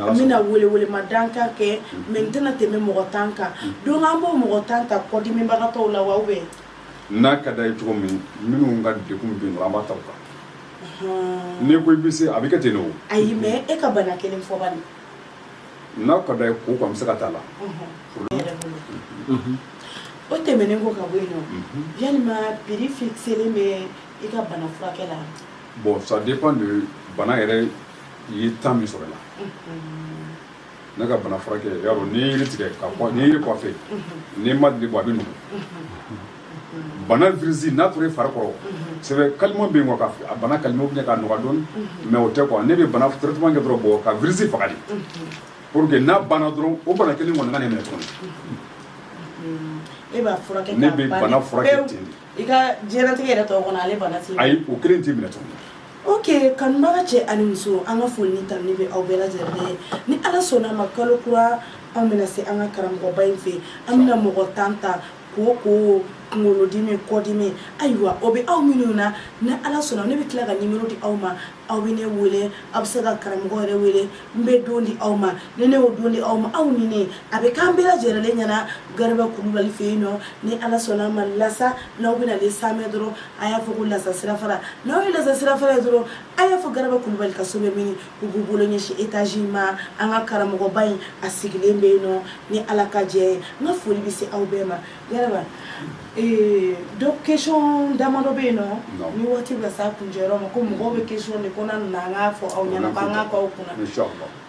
an bɛna welewele ma dan kan kɛ mais n tɛna tɛmɛ mɔgɔ tan kan donc an b'o mɔgɔ tan ta kɔdimibagatɔw la wa ou bien n'a ka d'a ye cogo min minnu ka degun bɛ yen an b'a ta o kan n'i ko i bɛ se a bɛ kɛ ten o ayi mais e ka bana kelen fɔ n'a ka d'a ye ko an bɛ se ka t'a la o tɛmɛnen ko ka bɔ yen yalima prix fixelen bɛ i ka bana furakɛ la bon ça dépend de bana yɛrɛ i ye temps min sɔrɔ la ne ka bana furakɛ y'a dɔn n'i ye yiri tigɛ ka kɔ n'i ye yiri couper n'i ma dili bɔ a bɛ nugu bana virus n'a tora i fari kɔrɔ c'est vrai calmant bɛ yen quoi a bana calmer ou bien k'a nɔgɔya dɔɔni mais o tɛ quoi ne bɛ bana traitement kɛ dɔrɔn bɔ ka virus faga de pour que n'a banna dɔrɔn o bana kelen kɔni kan'i minɛ tuguni e b'a furakɛ ne bɛ bana furakɛ ten de i ka diɲɛlatigɛ yɛrɛ tɔ kɔnɔ ale bana t'i minɛ ayi o kelen t'i minɛ tuguni Ok kanubaga cɛ ani muso an ka foli ni tanuni bɛ aw bɛɛ lajɛlen ye ni ala sɔnna an ma kalo kura an bɛna se an ka karamɔgɔba in fɛ an bɛna mɔgɔ tan ta ko ko kunkolodimi kɔdimi ayiwa o bɛ aw minnu na ni ala sɔnna ne bɛ tila ka numéro di aw ma aw bɛ ne wele aw bɛ se ka karamɔgɔ yɛrɛ wele n bɛ don di aw ma ni ne y'o don di aw ma aw ni a bɛ k'an bɛɛ lajɛlen ɲɛna garaba kulubali fɛ yen nɔ ni ala sɔnna an ma lasa n'aw bɛna na samɛ dɔrɔn a y'a fɔ ko lasa sirafara n'aw ye lasa sirafara ye dɔrɔn a y'a fɔ garaba kulubali ka so bɛ mini u b'u bolo ɲɛsin étage ma an ka karamɔgɔba in a sigilen bɛ yen nɔ ni ala ka jɛ ye n ka foli bɛ se aw bɛɛ ma garaba ee, donc question damadɔ bɛ yen nɔ ni waati bɛ s'a kuncɛyɔrɔ ma ko mɔgɔw bɛ question de ko na na an k'a fɔ aw ɲɛna ko an k'a k'aw kunna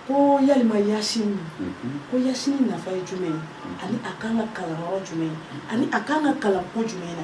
ko yalima yasini mhm. ko yasini nafa ye jumɛn ye ani a kan ka kalan yɔrɔ jumɛn ye ani a kan ka kalan ko jumɛn na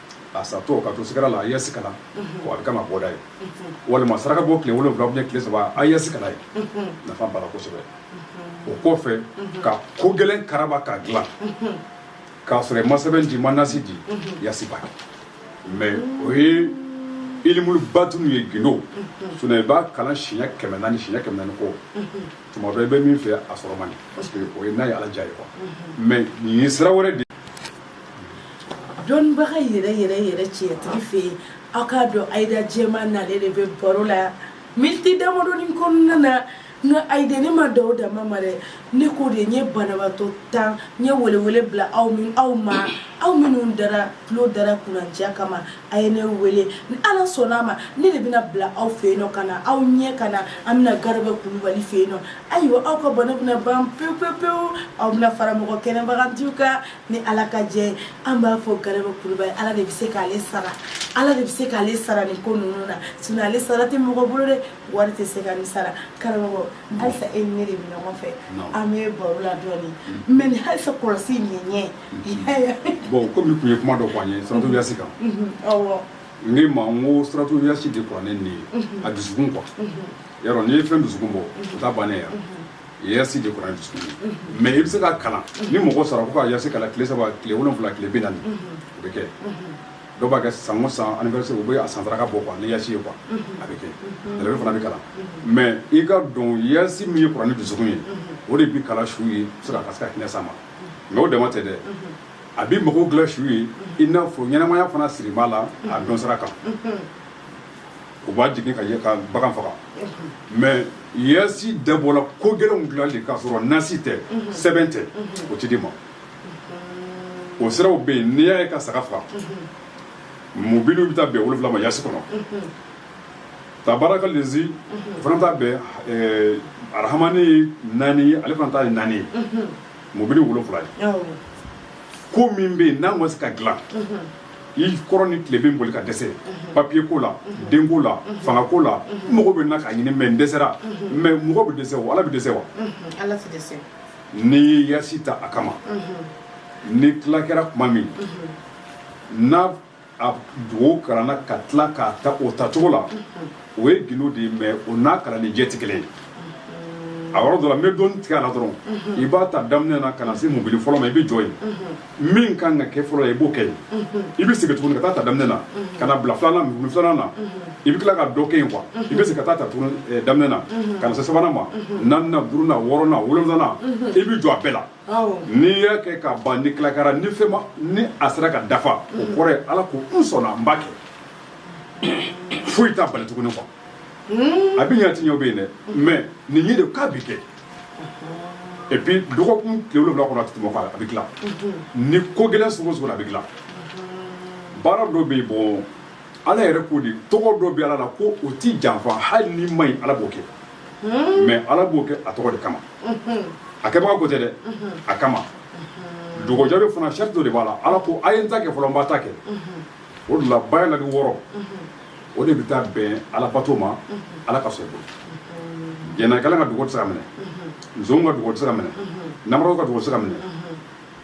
a satɔ ka to sigara la a ye yasi kalan a bɛ kama bɔda ye walima saraka bɔ tile wolonwula ou bien tile saba a ye yasi kalan nafa b'a la kosɛbɛ o kɔfɛ ka ko gɛlɛn karaba k'a dilan k'a sɔrɔ i ma sɛbɛn di i ma nasi di yasi ba mais o ye ilimulu batunu ye gindo sinon i b'a kalan siɲɛ kɛmɛ naani siɲɛ kɛmɛ naani kɔ tuma bɛɛ i bɛ min fɛ a sɔrɔ man di parce que o ye n'a ye ala diya ye quoi mais nin ye sira wɛrɛ de dɔnnibaga yɛrɛ yɛrɛ yɛrɛ tiɲɛtigi fɛ yen aw k'a dɔn ayida jɛma nale de bɛ baro la miniti damadɔni kɔnɔna na nka ayida ne ma dan o dama ma dɛ ne ko de n ye banabaatɔ tan n ye welewele bila aw min aw ma aw minnu dara tulo dara kunnandiya kama a ye ne wele ni ala sɔnna a ma ne de bɛna bila aw fɛ yen nɔ ka na aw ɲɛ ka na an bɛna garaba kulubali fɛ yen nɔ ayiwa aw ka bana bɛna ban pewu pewu pewu aw bɛna fara mɔgɔ kɛnɛbagatɔw kan ni ala ka jɛ an b'a fɔ garaba kulubali ala de bɛ se k'ale sara ala de bɛ se k'ale sara nin ko ninnu na sinon ale sara tɛ mɔgɔ bolo dɛ wari tɛ se ka nin sara karamɔgɔ halisa e ni ne de bɛ ɲɔgɔn fɛ an bɛ baro la dɔɔni mais nin halisa kɔlɔsi nin ɲɛ bon comme i tun ye kuma dɔ fɔ an ye suratu yasi kan awɔ n k'i ma n ko suratu yasi de kuranɛ nin ye a dusukun quoi yarɔ n'i ye fɛn dusukun bɔ o t'a bannen ya yasi de kuranɛ dusukun ye mais i bɛ se k'a kalan ni mɔgɔ sara ko ka yasi kalan tile saba tile wolonwula tile bi naani o bɛ kɛ dɔw b'a kɛ san o san anniversaire u bɛ a san saraka bɔ quoi ni yasi ye quoi a bɛ kɛ dɛrɛbe fana bɛ kalan mais i k'a dɔn yasi min ye kuranɛ dusukun ye o de bi kalan su ye se ka se ka hinɛ s'a ma mais o dama tɛ dɛ a bi mɔgɔw dilan su ye i n'a fɔ ɲɛnamaya fana siri b'a la a dɔn sira kan u b'a jigin ka bagan faga mais yasi dabɔra ko gɛlɛn dilan de k'a sɔrɔ nasi tɛ sɛbɛn tɛ o tɛ di ma o siraw bɛ yen n'i y'a ye ka saga faga mubiniw bɛ taa bɛn wolonwula ma yasi kɔnɔ tabarakalezi o fana taa bɛn arahamani naani ale fana ta ye naani ye mubini wolonwula ye ko min bɛ yen n'a ma se ka dilan i kɔrɔ ni tile bɛ boli ka dɛsɛ papier ko la denko la fanga ko la mɔgɔ bɛ na k'a ɲini mais n dɛsɛra mais mɔgɔ bɛ dɛsɛ wa ala bɛ dɛsɛ wa ala tɛ dɛsɛ n'i ye yasi ta a kama ni tila kɛra tuma min na a dugawu kalanna ka tila k'a ta o tacogo la o ye gundo de ye mais o n'a kalanni jɛ tɛ kelen ye a yɔrɔ dɔ la n bɛ dɔɔnin tigɛ a la dɔrɔn i b'a ta daminɛ na ka na se mubini fɔlɔ ma i bɛ jɔ yen min ka kan ka kɛ fɔlɔ ye i b'o kɛ yen i bɛ segin tuguni ka taa ta daminɛ na ka na bila filanan mubini filanan na i bɛ tila ka dɔ kɛ yen quoi i bɛ segin ka taa ta tuguni eh, daminɛ na ka na se sabanan ma naaninan duurunan wɔɔrɔnan wolonwulanan i bɛ jɔ a bɛɛ la n'i y'a kɛ ka ban ni tila kɛra ni fɛn ma ni a sera ka dafa o kɔrɔ ye ala ko n sɔnna n b'a kɛ foyi t'a bali tuguni quoi hmm. a bɛ ɲɛ ti ɲɛ bɛ yen dɛ mais nin ye de k'a bɛ kɛ et puis dɔgɔkun tile wolonwula kɔnɔ a tɛ tɛmɛ kɔ a bɛ dilan ni ko gɛlɛn sugu o sugu la a bɛ dilan baara dɔ bɛ yen bon ala yɛrɛ k'o de tɔgɔ dɔ bɛ ala la ko o ti janfa hali ni man ɲi ala b'o kɛ hmm. mais ala b'o kɛ a tɔgɔ de kama hmm. a kɛbaga ko tɛ dɛ a kama dogɔjɔ de fana sarati dɔ de b'a la ala ko a ye n ta kɛ fɔlɔ n b'aw ta kɛ o de la ba la ni wɔɔrɔ o de bɛ taa bɛn alabato ma ala ka sɔn i bolo jɛnɛkɛla ka dugawu tɛ se ka minɛ nson ka dugawu tɛ se ka minɛ namara ka dugawu tɛ se ka minɛ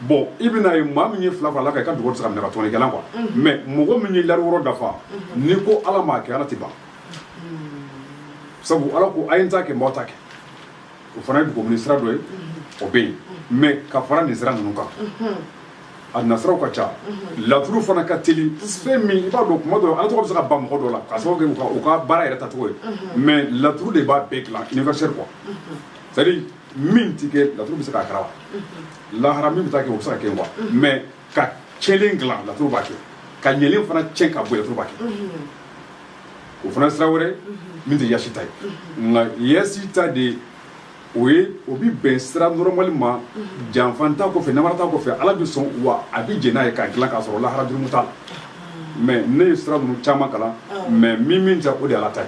bon i bɛna ye maa min ye fila fara ala kan i ka dugawu tɛ se ka minɛ ka tɔɲɔnikɛla quoi mais mɔgɔ min ye lari wɔɔrɔ dafa n'i ko ala ma a kɛ ala tɛ ban sabu ala ko a ye n ta kɛ n b'aw ta kɛ o fana ye dugawu minɛ sira dɔ ye o bɛ yen mais ka fara nin sira ninnu kan an'a siraw ka ca laturu fana ka teli fɛn min i b'a dɔn kuma dɔ ala tɔgɔ bɛ se ka ban mɔgɔ dɔ la k'a sababu kɛ u ka baara yɛrɛ tacogo ye mais laturu de b'a bɛɛ dilan universel quoi c'est à dire min tɛ kɛ laturu bɛ se k'a kɛra wa lahara min bɛ taa kɛ o bɛ se ka kɛ quoi mais ka cɛnlen dilan laturu b'a kɛ ka ɲɛlen fana cɛn ka bɔ laturu b'a kɛ o fana sira wɛrɛ min tɛ yasin ta ye nka yasin ta de o ye o bɛ bɛn sira normal ma janfa t'a kɔfɛ namara t'a kɔfɛ ala bɛ sɔn wa a bɛ jɛn n'a ye k'a dilan k'a sɔrɔ lahara jurumu t'a la mais ne ye sira ninnu caman kalan mais min min ta o de ala ta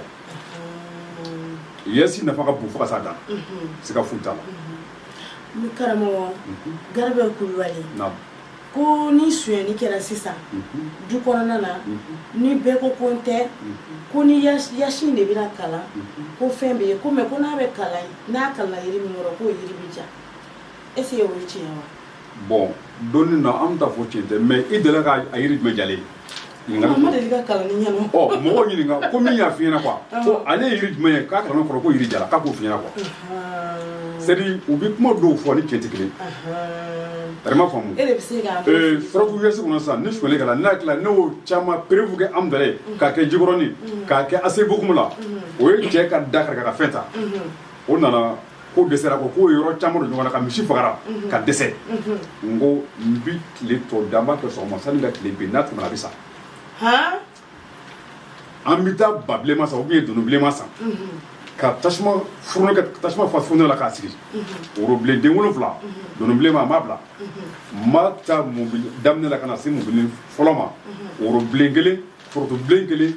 ye yasin nafa ka bon fo ka s'a dan na sika foyi t'a la garaba kulubali ko ni sonyani kɛra sisan mhm. du kɔnɔna na mhm. ni bɛɛ ko ko n tɛ mhm. ko ni yasin de bɛna kalan ko fɛn bɛ ye ko mais ko n'a bɛ kalan n'a kalanna yiri min kɔrɔ k'o yiri bɛ ja est ce que o ye tiɲɛ wa. bon dɔnni na an bɛ taa fɔ tiɲɛ tɛ mais i delila ka a yiri jumɛn jalen ye. mɔgɔ ɲininka ko min y'a f'i ɲɛna ko ale ye yiri jumɛn ye k'a kalan kɔrɔ ko yiri jara k'a k'o f'i ɲɛna quoi c'est à dire u bɛ kuma dɔw fɔ ni cɛn tɛ kelen ma faamu farabu yasin kɔnɔ sisan ni sonyali kɛra n'a tila n'o caman preuve kɛ an bɛɛ ye k'a kɛ jikɔrɔnin k'a kɛ aci bocoum la o ye cɛ ka da kari ka fɛn ta o nana ko dɛsɛra ko k'o yɔrɔ caman don ɲɔgɔn na ka misi fagara mhm. ka dɛsɛ mhm. n ko n bi tile tɔ dan b'a kɛ sɔgɔma sani ka tile bin n'a tɛmɛna a bɛ sa an bɛ taa ba bilenma san ou bien donon bilenma san mhm. ka tasuma furune ka tasuma fa furune la k'a sigi worobilen den wolonfila donon bilenma a m'a bila n ma taa mobili daminɛ la ka na se mobili fɔlɔ ma worobilen kelen forotobilen kelen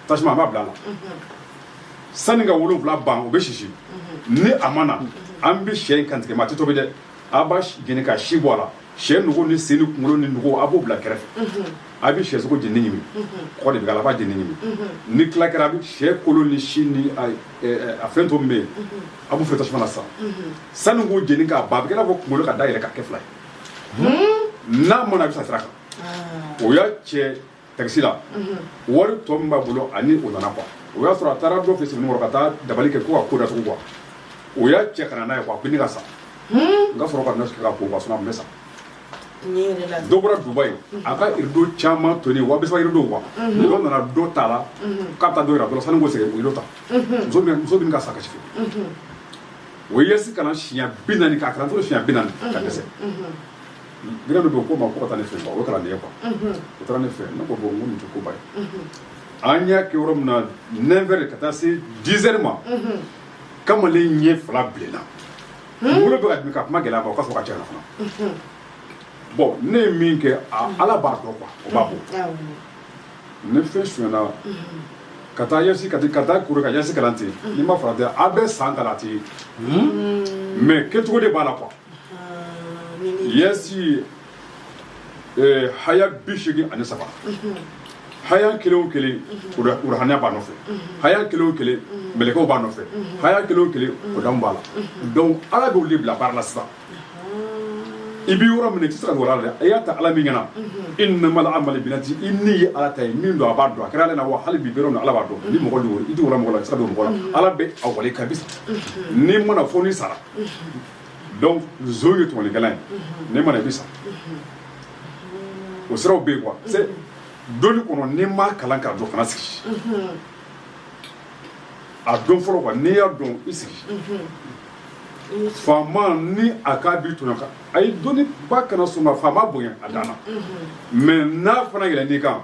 tasuma a b'a bila a la sanni ka wolonfila ban o bɛ sisi ni a ma na an bɛ sɛ in kantigɛ mais a tɛ tobi dɛ a b'a jeni ka si bɔ a la sɛ nugu ni sen ni kunkolo ni nugu a b'o bila kɛrɛfɛ a bɛ sɛ sogo jeni ɲimi kɔgɔ de bɛ k'a la a b'a jeni ɲimi ni tila kɛra a bɛ sɛ kolo ni si ni a ɛ, a fɛn to min bɛ yen a b'o fɛ tasuma na sisan sanni k'o jeni k'a ban a bɛ kɛ i n'a fɔ kunkolo ka da yɛlɛ k'a kɛ fila ye n'a ma na a bɛ sa sira kan o y'a cɛ tagisi la wari tɔ min b'a bolo ani o nana quoi o y'a sɔrɔ a taara dɔ fɛ sebenikɔrɔ ka taa dabali kɛ ko ka ko datugu quoi o y'a cɛ ka na n'a ye quoi ko ne ka sa n ka sɔrɔ ka nɔsi kɛ ka ko quoi sinon a tun bɛ sa dɔ bɔra dubayi a ka irido caman tɔni wa bisaba irido quoi dɔ nana dɔ ta a la k'a bɛ taa dɔ yira dɔ la sani k'o segin o irido ta muso min muso bɛ ka sa kasi fɛ o ye yɛsi kalan siɲɛ bi naani k'a kalan fo siɲɛ bi naani ka dɛsɛ Jinɛ bɛ don ko ma ko taa ne fɛ o taara ne quoi o taara ne fɛ ne ko bon n ko nin tɛ koba ye an y'a kɛ yɔrɔ min na neuf heures ka taa se dix heures ma kamalen ɲɛ fila bilenna kunkolo bɛ ka dimi ka kuma gɛlɛya o ka fɔ ka ca fana bon ne ye min kɛ ala b'a dɔn quoi o b'a bɔ ne fɛn sonyana ka taa yasi ka ka taa kuru ka yasi kalan ten n'i ma farati a bɛ san kalan ten mais kɛcogo de b'a la quoi yɛsi eh, haya bi seegin ani saba haya kelen o kelen urahaniya b'a nɔfɛ haya kelen o kelen mɛlɛkɛw b'a nɔfɛ haya kelen o kelen odamu b'a la donc ala b'olu de bila baara la sisan i bɛ yɔrɔ min i tɛ se ka dogo ala la dɛ i y'a ta ala min ɲɛna innamal a'malu binniyati i ni ye ala ta ye min don a b'a dɔn a kɛra ale na wa hali bi bɛrɛ na ala b'a dɔn ni mɔgɔ don i tɛ wala mɔgɔ la i tɛ se ka dogo mɔgɔ la ala bɛ a wale kabisa n'i mana fɔ ni sara donc zon ye tɔɲɔlikɛla ye n'i ma na i bɛ sa o siraw bɛ yen quoi c'est dɔnni kɔnɔ n'i ma kalan k'a dɔn kana sigi a dɔn fɔlɔ quoi n'i y'a dɔn i sigi faama ni a k'a b'i tɔɲɔ kan a ye dɔnni ba kana sɔn ka faama bonya a dan na mais n'a fana yɛlɛn i kan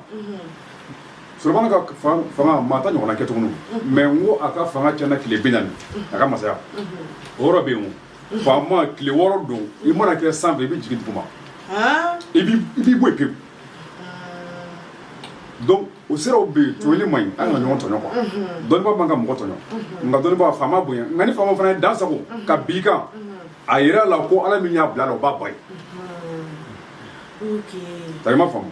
Sulemana ka fanga maa t'a ɲɔgɔnna kɛ tuguni mais n ko a ka fanga tiɲɛna tile bi naani a ka masaya o yɔrɔ bɛ yen faama tile wɔɔrɔ don i mana kɛ san fɛ i bɛ jigin dugu ma i b'i bɔ yen pewu donc o siraw bɛ yen tɔɲɔli man ɲi an kana ɲɔgɔn tɔɲɔ quoi dɔnnibaa man ka mɔgɔ tɔɲɔ nka dɔnnibaa faama bonya nka ni faama fana ye dan sago k'a b'i kan a jira la ko ala min y'a bila la o b'a bɔ yen ta ma faamu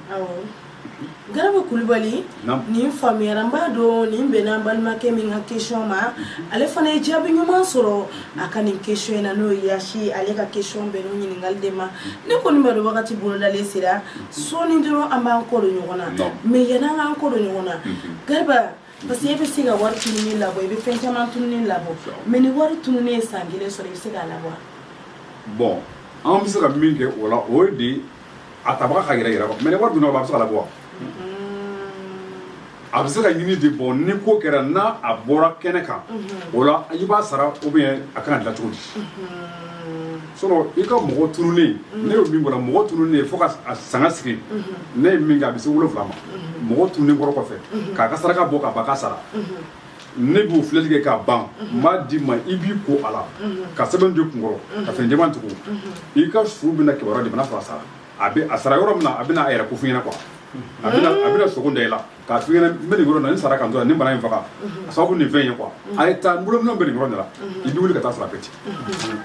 Garaba kulubali nin faamuyayara n b'a dɔn nin bɛnna an balimakɛ min ka question ma ale fana ye jaabi ɲuman sɔrɔ a ka nin question in na n'o ye Yasi ale ka question bɛnna ɲininkali de ma ne kɔni b'a dɔn wagati bolodalen sera sɔɔni dɔrɔn an b'an kɔ don ɲɔgɔn na mais yann'an k'an kɔ don ɲɔgɔn na Garaba parce que e bɛ se ka wari tununnen labɔ i bɛ fɛn caman tununnen labɔ mais ni wari tununnen ye san kelen sɔrɔ i bɛ se k'a labɔ bon an bɛ se ka min kɛ o la o de a tabaga ka yɛrɛ yɛrɛ mais ni wari dunna a bɛ se ka labɔ a bɛ se ka ɲini de bon ni ko kɛra n'a bɔra kɛnɛ kan o la i b'a sara ou bien a kan ka dilan cogo di sinon i ka mɔgɔ tununnen ne ye min bɔra mɔgɔ tununnen fo ka sanga sigi ne ye min kɛ a bɛ se wolonwula ma mɔgɔ tununnenkɔrɔ kɔfɛ k'a ka saraka bɔ k'a ban k'a sara ne b'o filɛli kɛ k'a ban n b'a d'i ma i b'i ko a la ka sɛbɛn don i kunkɔrɔ ka fini jɛman tugu i ka su bɛna kibaruya de bɛna sɔrɔ a sara a bɛ a sara yɔrɔ min na a bɛna a yɛrɛ ko f'i ɲɛna quoi a bɛna a bɛna sogo da i la k'a f'i ɲɛna n bɛ nin yɔrɔ in na n sara ka n to yan nin bana in faga a sababu nin fɛn in ye quoi a ye taa n bolo minɛnw bɛ nin yɔrɔ in de la i bɛ wuli ka taa sɔrɔ a bɛ ten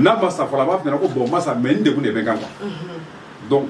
n'a ma sa fɔlɔ a b'a f'i ɲɛna ko bon n ma sa mais n degun de bɛ n kan quoi donc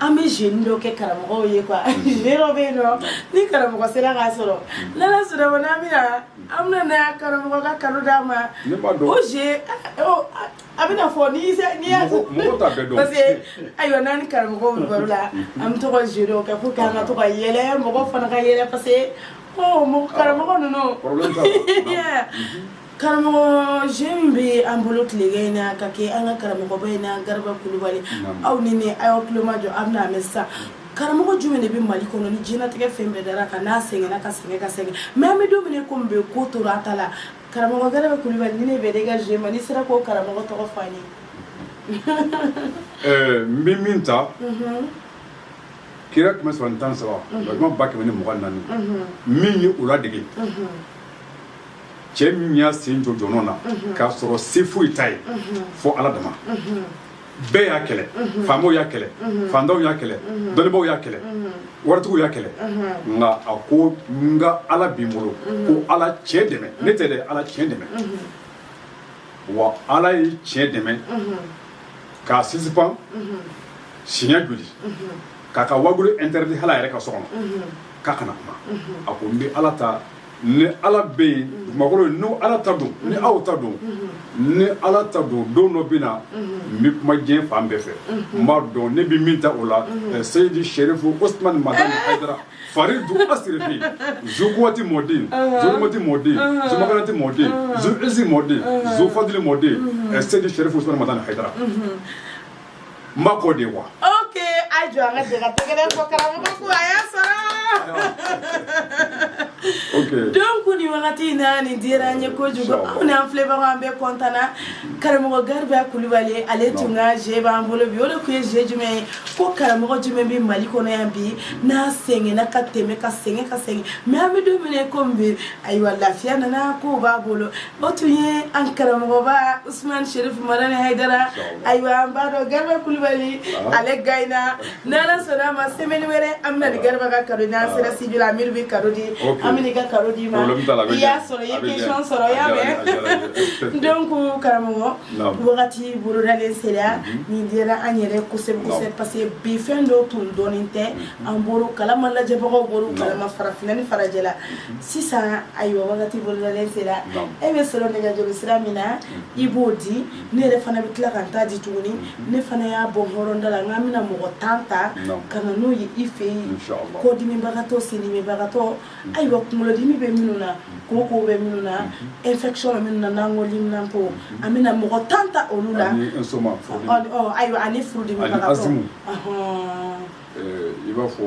an bɛ jeu dɔ kɛ karamɔgɔ ye quoi jeu dɔ bɛ yen dɔrɔn ni karamɔgɔ sera k'a sɔrɔ n'Ala sɔnna a ma an bɛna karamɔgɔ ka cadeau d'a ma o jeu a bɛna fɔ ni parce que ayiwa n'an ni karamɔgɔw bɛ baro la an bɛ to ka jeu dɔ kɛ pour qu'an ka to ka yɛlɛ mɔgɔ fana ka yɛlɛ parce que karamɔgɔ ninnu Karamɔgɔ jeu min bɛ an bolo tilegan in na ka kɛ an ka karamɔgɔba in na Garaba Kulibali, naamu, aw ni ne aw y'aw tulomajɔ aw bɛna a mɛn sisan karamɔgɔ jumɛn de bɛ Mali kɔnɔ ni diɲɛlatigɛ fɛn bɛɛ dara a kan n'a sɛgɛnna ka sɛgɛn ka sɛgɛn mais an bɛ don min na i komi bi ko tora a ta la karamɔgɔ Garaba Kulibali nin de bɛnna i ka jeu ma n'i sera k'o karamɔgɔ tɔgɔ fɔ an ye ɛɛ n bɛ min ta kira kɛmɛ saba ni tan ni saba walima ba kɛmɛ ni mugan ni naani min ye o ladege cɛ min y'a sen jɔ jɔnɔn na k'a sɔrɔ se foyi t'a ye fo ala dama bɛɛ y'a kɛlɛ faamaw y'a kɛlɛ fantanw y'a kɛlɛ dɔnnibaw y'a kɛlɛ waritigiw y'a kɛlɛ nka a ko n ka ala bɛ n bolo ko ala tiɲɛ dɛmɛ ne tɛ dɛ ala tiɲɛ dɛmɛ wa ala ye tiɲɛ dɛmɛ k'a sisipan siɲɛ joli k'a ka waajuli interdit hali a yɛrɛ ka so kɔnɔ k'a kana kuma a ko n bɛ ala ta ni ala bɛ yen dugumakolo ni ala ta don ni aw ta don ni ala ta don don dɔ bɛ na n bɛ kuma diɲɛ fan bɛɛ fɛ n b'a dɔn ne bɛ min ta o la seyidi serifu usman madani hayidara faridu asirifi zukuwati mɔden zulumati mɔden zumakanati mɔden zuyizi mɔden zufadili mɔden seyidi serifu usman madani hayidara n b'a kɔ de wa. ok a jɔ an ka jɛ ka tɛgɛrɛ fɔ karamɔgɔ ko a y'a sɔrɔ. donc ni wagati in na nin dira an ye kojugu anw n'an filɛbagaw an bɛɛ kɔntana karamɔgɔ gariba kulubali ale tun ka je b'an bolo bi o de tun ye je jumɛn ye ko karamɔgɔ jumɛn bɛ mali kɔnɔ yan bi n'a sɛgɛnna ka tɛmɛ ka sɛgɛn ka sɛgɛn mais an bɛ don min na komi bi ayiwa lafiya nana ko b'a bolo o tun ye an karamɔgɔba usman serifu madani hayidara ayiwa an b'a dɔn gariba kulubali ale gayina n'ala sɔnna a ma semaine wɛrɛ an bɛna ni gariba ka kado n'an sera studio la amiru bɛ kado di an bɛ n'i ka kado d'i ma i y'a sɔrɔ i ye question sɔrɔ y'a mɛn donc karamɔgɔ wagati bolodalen sera mhm. nin dira an yɛrɛ kosɛbɛsɛbɛ parce que bi fɛn dɔw tun dɔnnen tɛ mhm. an bɔr'o kalama lajɛbagaw bɔr'o kalama farafinna ni farajɛla mhm. sisan ayiwa wagati bolodalen sera e bɛ sɔrɔ nɛgɛjuru sira min na i b'o di ne yɛrɛ fana bɛ tila ka n ta di tuguni ne fana y'a bɔ n hɔrɔnda la n k'an bɛna mɔgɔ tan ta ka na n'o ye i fɛ yen kɔdimibagatɔ sendimibagatɔ ayiwa kunkolodimi bɛ minnu na koko bɛ minnu na infection bɛ minnu na n'an ko liminanpo an bɛna mɔgɔ tan ta olu la ayiwa ani furudimibagatɔ i b'a fɔ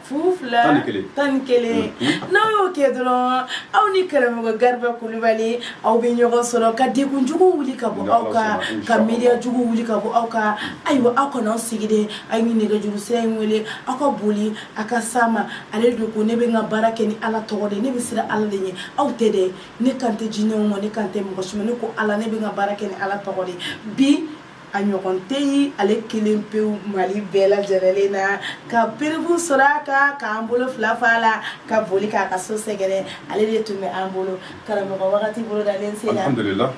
fu fila tan ni kelen n'aw y'o kɛ dɔrɔn aw ni karamɔgɔ gariba kulubali aw bɛ ɲɔgɔn sɔrɔ ka degunjugu wuli ka bɔ aw kan ka miiriyajugu wuli ka bɔ aw kan ayiwa aw kana aw sigi dɛ aw ye nɛgɛjuru sira in wele aw ka boli aw ka s'a ma ale dun ko ne bɛ n ka baara kɛ ni ala tɔgɔ de ne bɛ siran ala de ɲɛ aw tɛ dɛ ne kan tɛ jinɛw ma ne kan tɛ mɔgɔ si ma ne ko ala ne bɛ n ka baara kɛ ni ala tɔgɔ de bi a ɲɔgɔn tɛ yen ale kelen pewu mali bɛɛ lajɛlen na ka perebu sɔrɔ a kan k'an bolo fila fa la ka boli k'a ka so sɛgɛrɛ ale de tun bɛ an bolo karamɔgɔ wagati bolodalen sera alhamdulillah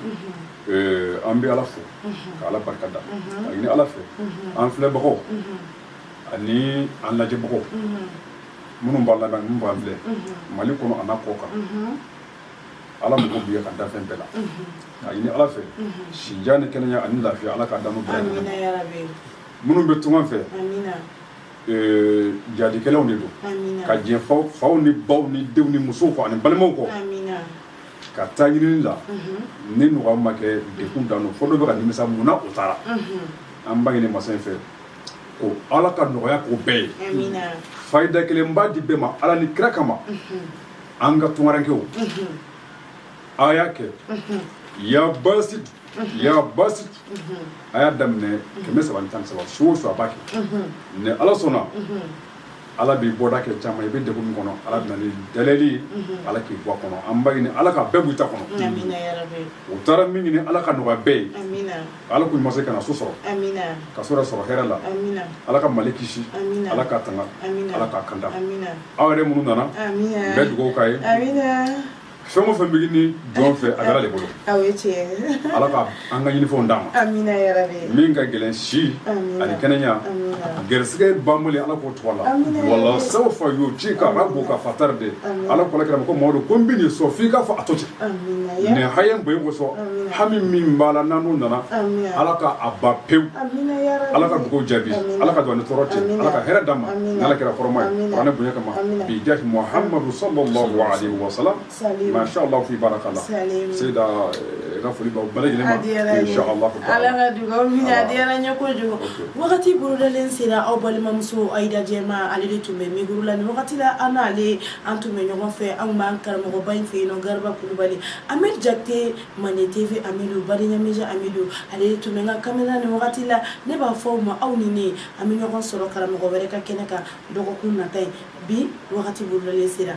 an bɛ ala fo ka ala barika da a ɲini ala fɛ an filɛbagaw ani an lajɛbagaw minnu b'an lamɛn minnu b'an filɛ mali kɔnɔ an'a kɔkan ala mago b'i ka dafɛn bɛɛ la K'a ɲini Ala fɛ si jan ni kɛnɛya ani lafiya Ala k'a d'an bɛɛ lajɛlen ma. Amina yarabi. Minnu bɛ tungan fɛ. Amina. Ee jadikɛlaw de don. Amina. Ka jɛn faw faw ni baw ni denw ni musow kɔ ani balimaw kɔ. Amina. Ka taa ɲinini la. Unhun. Ni nɔgɔya ma kɛ degun dan don. Fo dɔ bɛ ka nimisa mun na o taara. Unhun. An b'a ɲini masa in fɛ ko Ala ka nɔgɔya k'u bɛɛ ye. Amina. Fayida kelen n b'a di bɛɛ ma Ala ni kira kama. Unhun. An ka tungarankew. Unhun. aw y'a kɛ ya basit ya basit a y'a daminɛ kɛmɛ saba ni tan ni saba su o su a b'a kɛ ni ala sɔnna ala b'i bɔda kɛ caman i bɛ degun min kɔnɔ ala bɛ na ni dalilu ala k'i bɔ a kɔnɔ an b'a ɲini ala ka bɛɛ b'u ta kɔnɔ u taara min ɲini ala k'a nɔgɔya bɛɛ ye ala k'u ɲuman se ka na so sɔrɔ ka so sɔrɔ hɛrɛ la ala ka mali kisi ala k'a tanga ala k'a kanda aw yɛrɛ minnu nana n bɛ dugawu k'aw ye fɛn o fɛn bɛ ɲini jɔn fɛ a bɛ ala de bolo aw ye tiɲɛ ala ka an ka ɲinifɛnw d'an ma amina yarabi min ka gɛlɛn si ani kɛnɛya gɛrɛsɛgɛ banbali ala k'o tɔgɔ la wala sawfa yu'tika rabbuka fatarda ala ko kira ko mamadu ko n bɛn'i sɔn f'i k'a fɔ a to ten nin haya bonya kosɔn hami min b'a la n'an n'o nana ala ka a ban pewu ala ka dugawu jaabi ala ka don ni tɔɔrɔ cɛ ala ka hɛrɛ d'an ma n'ala kira hɔrɔma ye kuranɛ bonya kama bi jahi muhamadu sallallahu alaihi wa sallam masha allah fi barakallah seyida eh, ka foli b'aw bɛɛ lajɛlen ma insha allah ala ka dugawu minɛ a diyara n ye kojugu wagati bolodalen sera aw balimamuso ayida jɛma ale de tun bɛ mikoro la nin wagati la an n'ale an tun bɛ ɲɔgɔn fɛ an b'an karamɔgɔba in fɛ yen nɔ garaba kulubali Amɛdi Jakite Mande TV Amidu Badenya Media Amidu ale de tun bɛ n ka kamera nin wagati la ne b'a fɔ aw ma aw ni ne an bɛ ɲɔgɔn sɔrɔ karamɔgɔ wɛrɛ ka kɛnɛ kan dɔgɔkun nata ye bi wagati bolodalen sera